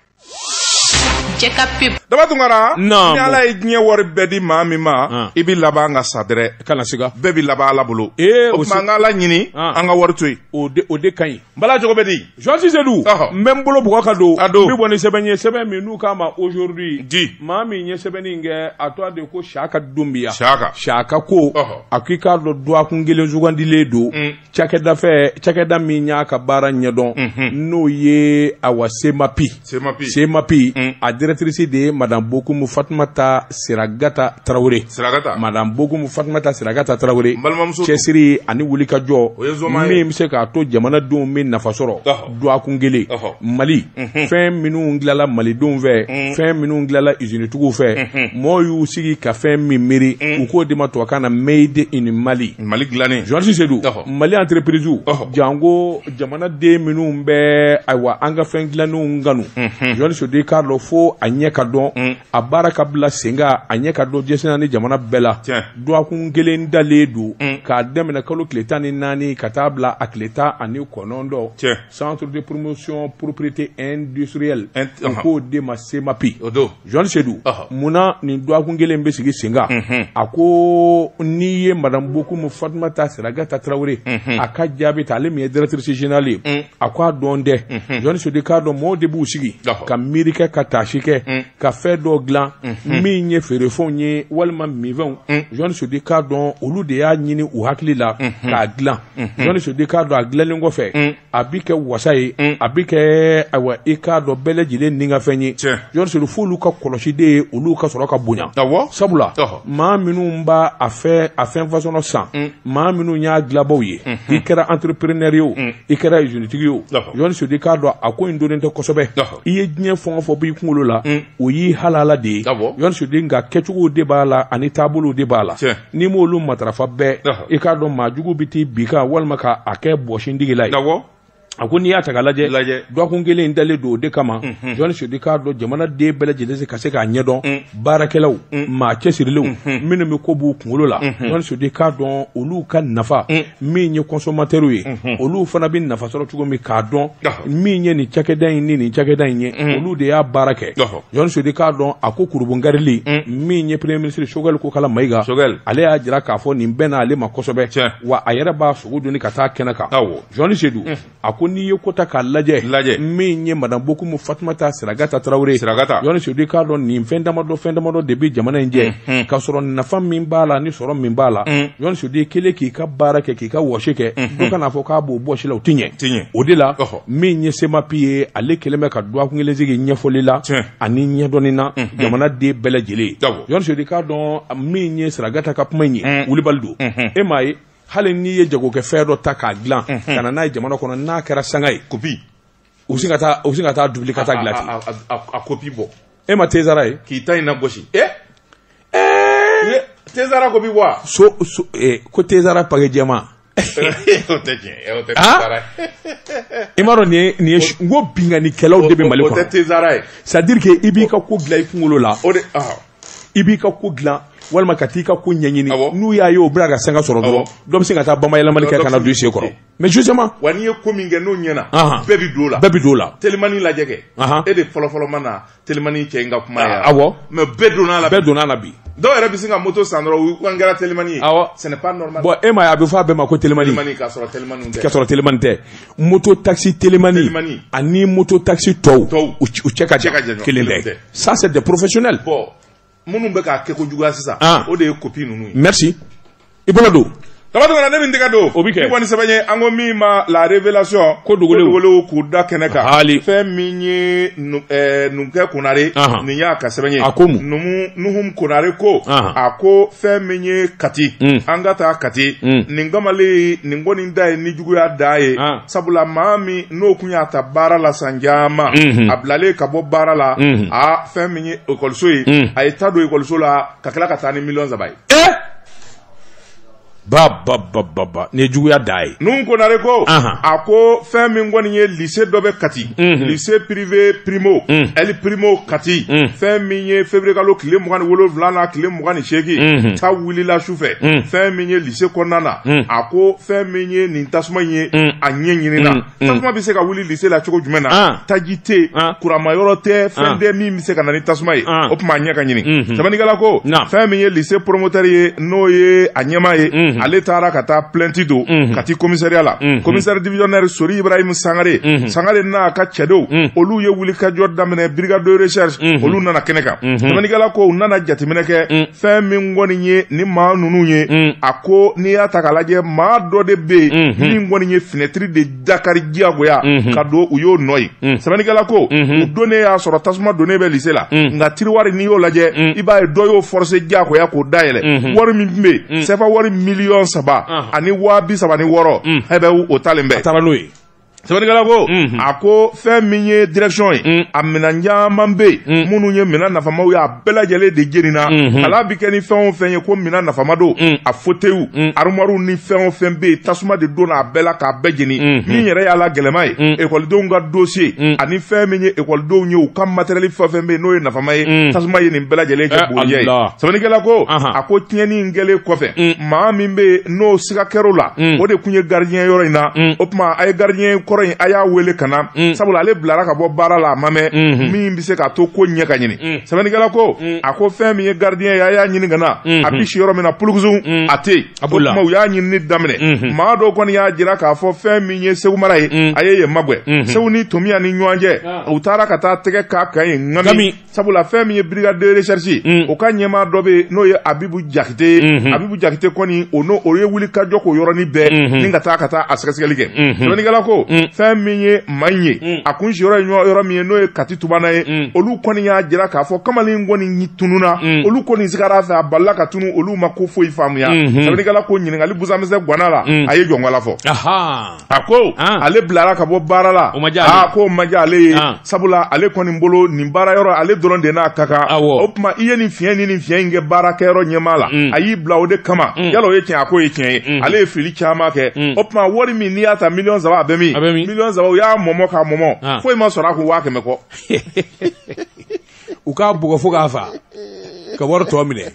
S3: daba tunkara
S2: ni ala ye
S1: diɲɛ
S2: wari bɛɛ di maa min ma i bɛ laban ka sa dɛrɛ kana siga bɛɛ bɛ laban
S1: ala bolo
S2: ee o an ka ala ɲini an ka wari to yen o o de ka
S1: ɲi bala cogo bɛ
S2: di journaliste Seydou
S1: n bɛ n bolo bugɔ ka don n bɛ bɔ ni sɛbɛn ye sɛbɛn min n'u k'a ma aujourd'hui maa min ye sɛbɛn in kɛ a tɔgɔ de ko saka dunbiya saka saka ko a ko i k'a dɔn dɔgɔkun kelen sugandilen don cakɛda fɛ cakɛda min y'a ka baara ɲɛdɔn n'o ye awa semapi semapi semapi mm. a directrice de ye madame bokumu fatumata siragata tarawele siragata madame bokumu fatumata siragata tarawele balimamuso cɛsiri ani wulikajɔ min bɛ se k'a to jamanadenw bɛ nafa sɔrɔ dɔgɔkun kelen mali fɛn minnu dilanla malidenw fɛ fɛn minnu dilanla izinitigiw fɛ mɔgɔw y'u sigi ka fɛn min miiri u k'o de ma tubabukan na made in mali mali dilannen journaliste Seydou mali entreprisew janko jamanaden minnu bɛ ayiwa an ka fɛn dilannenw kanu journaliste Seydou k'a dɔn fo a ɲɛ ka dɔn a baara ka bila sen kan a ɲɛ ka dɔn jɛnsɛnna ni jamana bɛɛ la dɔgɔkun kelen dalen don mm. k'a daminɛ kalo tile tan ni naani ka taa bila a tile tan ani kɔnɔntɔn centre de promotion propriété industrielle u k'o de ma semapi journaliste Seydou munna nin dɔgɔkun kelen bɛ sigi sen kan mhm. a ko n'i ye madame bokumu fatumata siragata tarawele mhm. a ka jaabi ta ale min ye directrice générale ye mm. a ko a dɔn dɛ mhm. jɔni sedu k'a dɔn mɔgɔw de b'u sigi ka miiri kɛ ka taasi kɛ mm. ka fɛn dɔ dilan mhm. min ye feerefɛnw ye walima minfɛnw mm. jɔni sedu k'a dɔn olu de y'a ɲini u hakili la mhm. k'a dilan jɔni sedu k'a dɔn a dilanlen kɔfɛ mm. a bi kɛ wasa ye a bi kɛ ayiwa i k'a dɔn bɛɛ lajɛlen ni ka fɛn ye jɔni sedu f'olu ka kɔlɔsi de ye olu ka sɔrɔ ka bonya sabula maa minnu b'a a fɛn fasɔnɔ san maa minnu y'a dilabaw ye mhm. i kɛra entrepreneur ye o mhm. i kɛra usine-tigi ye o jɔni sedu k'a dɔn a ko in dɔnnen tɛ kosɛbɛ i ye diɲɛ fɛn o fɛn b'i kunkolo la mhm. o y'i halala de ye jɔni sedu nka kɛcogow de b'a la ani taabolow de b'a la n'i m'olu matarafa bɛɛ i k'a dɔn maa jugu bɛ t'i bin kan walima k'a kɛ bɔsindigi la ye a ko n'i y'a ta k'a lajɛ dɔgɔkun kelen in dalen don o de kama mhm. jɔn sedu k'a dɔn jamanaden bɛɛ lajɛlen se ka se k'a ɲɛdɔn mm. baarakɛlaw mm. maa cɛsirilenw mhm. minnu bɛ ko b'u kunkolo la mhm. jɔn sedu k'a dɔn olu ka nafa mm. min ye kɔnsɔmatɛriw ye olu fana bɛ nafa sɔrɔ cogo min k'a dɔn min ye nin cakɛda in ni nin cakɛda in ye olu de y'a baara kɛ jɔn sedu k'a dɔn a ko kurunbonkarili min ye premier ministre sogɛli kokala mayiga ale y'a jira k'a fɔ nin bɛnn'ale ma kosɛbɛ wa a yɛrɛ b'a sogo doni ka taa kɛnɛ kan Jɔnni sedu a ko n'i ye ko ta k'a lajɛ min ye madame bokumu fatumata siragata tarawele jɔnni sedu k'a dɔn nin fɛn damadɔ fɛn damadɔ de bɛ jamana in jɛ ka sɔrɔ nafa min b'a la ni sɔrɔ min b'a la jɔnni sedu e kelen k'i ka baara kɛ k'i ka wɔsi kɛ dɔ ka n'a fɔ k'a b'o bɔsi i la o tɛ ɲɛ o de la min ye semapi ye ale kɛlen bɛ ka dɔgɔkun kelen sigi ɲɛfɔli la ani ɲɛdɔnni na jamanaden bɛɛ lajɛlen ye jɔnni sedu k'a dɔn min ye siragata ka kuma in ye wulibali don e m'a ye hali n'i ye jagokɛ fɛn dɔ ta k'a dilan ka na n'a ye jamana kɔnɔ n'a kɛra sanga ye kopi u bɛ sin ka taa u bɛ sin ka t'a dubili ka t'a dilan ten a- a- a- a kopi bɔ e ma tezara ye k'i ta in na gosi e Ye, tezara kopi bɔ a so so eh, ko tezara pake jɛman o tɛ tiɲɛ ye, o tɛ Ah? tezara ye. i m'a dɔn nin ye nin ye su- n ko binkannikɛlaw de bɛ mali o tɛ kɔnɔ tezara ye c'est à dire que i b'i ka ko dilan i kunkolo la o de ah, i b'i ka ko dilan walima ka t'i ka ko ɲɛɲini n'u y'a ye o bɛna ka sanga sɔrɔ dɔrɔn dɔ bɛ sin ka taa bamayɛlɛmali kɛ ka na don i sen kɔrɔ mais justement wa n'i ye ko min kɛ n'o ɲɛna bɛɛ bɛ don o la bɛɛ bɛ don o la telimani lajɛ kɛ e de fɔlɔfɔlɔ ma na telimani cɛ in ka kuma ye awɔ mais bɛɛ donna a la bɛɛ donna a la bi dɔw yɛrɛ bɛ sin ka moto san dɔrɔn u kɛra telimani ye awɔ ce n'est pas normal bon e m'a ye a bɛ fɔ a bɛɛ ma ko telimani ka sɔrɔ telimani tɛ ka sɔrɔ telimani tɛ moto takisi telimani ani moto takisi tɔw u cɛ ka jan kelen tɛ ça c'est des professionnels minnu bɛ k'a kɛ ko juguya sisan ah. o de ye kopi ninnu ye merci i bolo don daba tunkara ne min tɛgɛ don o bɛ kɛ kɔni sɛbɛn ye an ko min ma la révélation ko dogolenw k'u da kɛnɛ kan hali fɛn min ye eh, numukɛ konare nin y'a ka sɛbɛn ye a ko mun numu nuhum konare ko a ko fɛn min ye kati hmm. an ka taa kati hmm. nin kamalen nin kɔni da ye ni juguya dan ye ah. sabula maa min n'o kun y'a ta baara la san caman mhm. a bilalen ka bɔ baara la mhm. a fɛn min ye ekɔliso ye mhm. a ye ta don ekɔliso la ka tila ka taa ni miliyɔn saba ye eh! ba ba ba ba ba nin ye juguya dan ye ninnu ko nare
S2: ko a ko fɛn min kɔni ye lise dɔ bɛ kati lise pirive primo ɛli primo kati fɛn min ye feburuyekalo tile mugan ni wolonwula na tile mugan ni seegin ta wulila su fɛ fɛn min ye se kɔnɔna na hmm. a ko fɛn min ye nin tasuma in ye hmm. a ɲɛɲinina hmm. tasuma bɛ se ka wuli lise la cogo jumɛn na ah. taji tɛ ah. kuranma yɔrɔ tɛ fɛn tɛ ah. min bɛ se ka na ni tasuma ye o tuma a ɲɛ ka ɲini sɛbɛnnikɛla ko fɛn min ye lise poromotɛri ye n'o ye a ɲɛmaa ye ale taara ka taa plɛnti don kati komisariya la komisari divisɔnɛri sori ibrahim sangare sangare n'a ka cɛdenw olu ye wulikajɔ daminɛ brigade de recherche olu nana kɛnɛ kan sɛbɛnnikɛla ko u nana jateminɛ kɛ fɛn min kɔni ye ni maa ninnu ye mm. a ko n'i y'a ta k'a lajɛ maa dɔ de bɛ yen mm-hmm. min kɔni ye finɛtiri de dakari diyagoya mm-hmm. ka don u y'o nɔ ye mm. sɛbɛnnikɛla ko mm-hmm. u donnen y'a sɔrɔ tasuma donnen bɛ lise la mm. nka tiriwari n'i y'o lajɛ i b'a ye dɔ y'o forose diyagoya k'o dayɛlɛ wari min tun bɛ yen sɛfa wari miliyɔn saba ani waa bi saba ni wɔɔrɔ hɛbɛ o talen bɛ a taara n'o ye sɛbɛnnikɛla ko mhm. a ko fɛn min ye direction ye mm. a minɛn caman bɛ yen mm. minnu ye minɛn nafamaw ye a bɛɛ lajɛlen de jenina mhm. kalan bɛ kɛ ni fɛn o fɛn ye ko minɛn nafama don mm. a foteyiw arumariw ni fɛn o fɛn bɛ yen tasuma de donna a bɛɛ la k'a bɛɛ jeni mhm. min yɛrɛ y'a la gɛlɛman ye ekɔlidenw ka dossier ani fɛn min ye ekɔlidenw ye u ka materiyɛli fɛn o fɛn bɛ yen n'o ye nafama ye tasuma ye nin bɛɛ lajɛlen kɛ eh, bugurijɛ ye sɛbɛnnikɛla ko a ko tiɲɛni in kɛlen kɔfɛ maa min bɛ yen n'o siga kɛr'o la mm. o de tun ye gardien yɔrɔ in na mm. o tuma a ye gardien kɔrɔ in a y'a wele ka na mm. sabula ale bilara ka bɔ baara la a ma mɛn mm-hmm. min bɛ se ka to ko ɲɛ ka ɲini sɛbɛnnikɛla ko a ko fɛn min ye gardien ye a y'a ɲini ka na mm-hmm. a bɛ si yɔrɔ min na pulukusun a tɛ yen o tuma u y'a ɲinini daminɛ mm-hmm. maa dɔw kɔni y'a jira k'a fɔ fɛn min ye segu mara ye a ye yen magwɛn segu ni tominiyan ni ɲɔgɔn cɛ ah. u taara ka taa tɛgɛ k'a kan yen ŋami sabula fɛn min ye brigade de recherche ye mm. o ka ɲɛmaa dɔ bɛ yen n'o ye abibu jakite ye mm -hmm. abibu jakite kɔni o n'o o ye wuli ka jɔ k'o yɔrɔnin bɛɛ mm -hmm. ni ka taa ka taa a sɛgɛsɛgɛli kɛ mm -hmm. sɛbɛnnikɛla ko mm. fɛn min ye maa in ye mm. a kun siyɔrɔ ye yɔrɔ min ye n'o ye kati tubana ye mm. olu kɔni y'a jira k'a fɔ kamalen kɔni tununa mm. olu kɔni sigara a fɛ a balila ka tunun olu ma ko foyi faamuya mm -hmm. sɛbɛnnikɛla ko ɲininkali busan misɛn gwanna a la mm. a ye jɔngɔla fɔ a ko ah. ale bilara ka bɔ baara la ah, k'o ma diya ale ye ah. sabula ale kɔni bolo nin baara yɔrɔ ale dɔrɔn de n'a ka kan o tuma i ye nin fiɲɛ ni nin fiɲɛ in kɛ baarakɛyɔrɔ ɲɛmaa la mm. a y'i bila o de kama mm. yala o ye tiɲɛ a k'o ye tiɲɛ ye mm. ale ye fili caman kɛ o tuma wari min n'i y'a ta miliyɔn saba a bɛ min miliyɔn saba u y'a mɔmɔ k'a mɔmɔ foyi ma sɔrɔ a kun waa kɛmɛ kɔ
S1: u k'a bugɔ fo k'a fa ka wari tɔ minɛ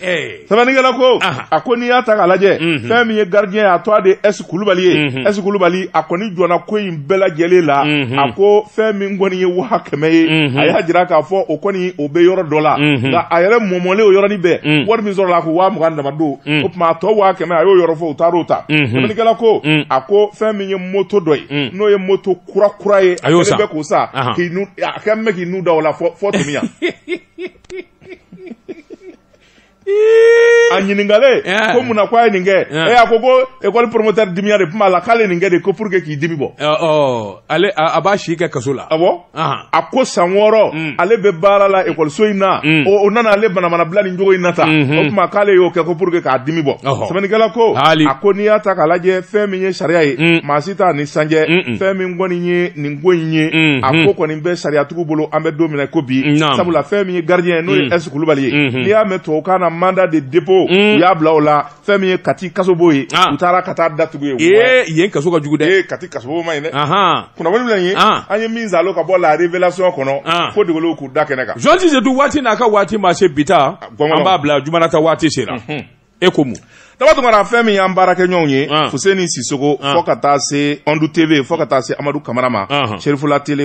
S2: sɛbɛnnikɛla ko a ko n'i y'a ta k'a lajɛ mhm. fɛn min ye gardien ye a tɔgɔ de ɛsi kulubali ye mhm. ɛsi kulubali a kɔni jɔnna ko in bɛɛ lajɛlen la mhm. a ko fɛn min kɔni ye waa kɛmɛ ye a y'a jira k'a fɔ o kɔni o bɛ yɔrɔ dɔ la nka a yɛrɛ mɔmɔlen o yɔrɔnin bɛɛ wari min sɔrɔla a ko waa mugan dama don o tuma a tɔ waa kɛmɛ a y'o yɔrɔ fɔ u taar'o ta sɛbɛnnikɛla ko a ko fɛn min ye moto dɔ ye n'o ye moto kura kura ye a kɛlen bɛ k'o san k'i nun a kɛlen bɛ k'i nun da o la fɔ tominiyan a ɲininkalen ko mun na ko a ye nin kɛ ee a ko ko ekɔli promoteur dimiya de tun b'a la k'ale nin kɛ de ko pour que k'i dimi bɔ ale
S1: a b'a si kɛ kaso la awɔ a ko
S2: san wɔɔrɔ mm. ale bɛ baara la ekɔliso in na mm. o nana ale manamana bila nin cogo in na tan mm-hmm. o tuma k'ale y'o kɛ ko pour que k'a dimi bɔ sɛbɛnnikɛla ko a ko n'i y'a ta k'a lajɛ fɛn min ye sariya ye mm. maa si t'a ni san cɛ fɛn min kɔni ye nin ko in ye mm-hmm. a ko kɔni bɛ sariyatigiw bolo an bɛ don min na ko bi sabula fɛn min ye gardien ye n'o ye ɛsi mm. kulubali ye mm-hmm. n'i y'a mɛn tubabukan na mandat de dépôt mm. u y'a bila o la fɛn min ye kati kasobon ye ah. u taara ka t'a datugu yen ee yen kaso ka jugu
S1: dɛ kati kasobon man ɲi
S2: dɛ kunnafoni bila ye ah. an ye min saalo ka bɔ la révélation kɔnɔ ah. ko dogolenw k'u da kɛnɛ kan Jean Tizetu waati n'a ka
S1: waati ma se bi ta an b'a bila juma nata waati sera mm-hmm. e ko mun daba tunkara fɛn
S2: min y'an baarakɛɲɔgɔnw ye ah. fuseni sisɔkɔ ah. fɔ ka taa se ɔndu tv fɔ ka taa se amadu kamara ma serifula tele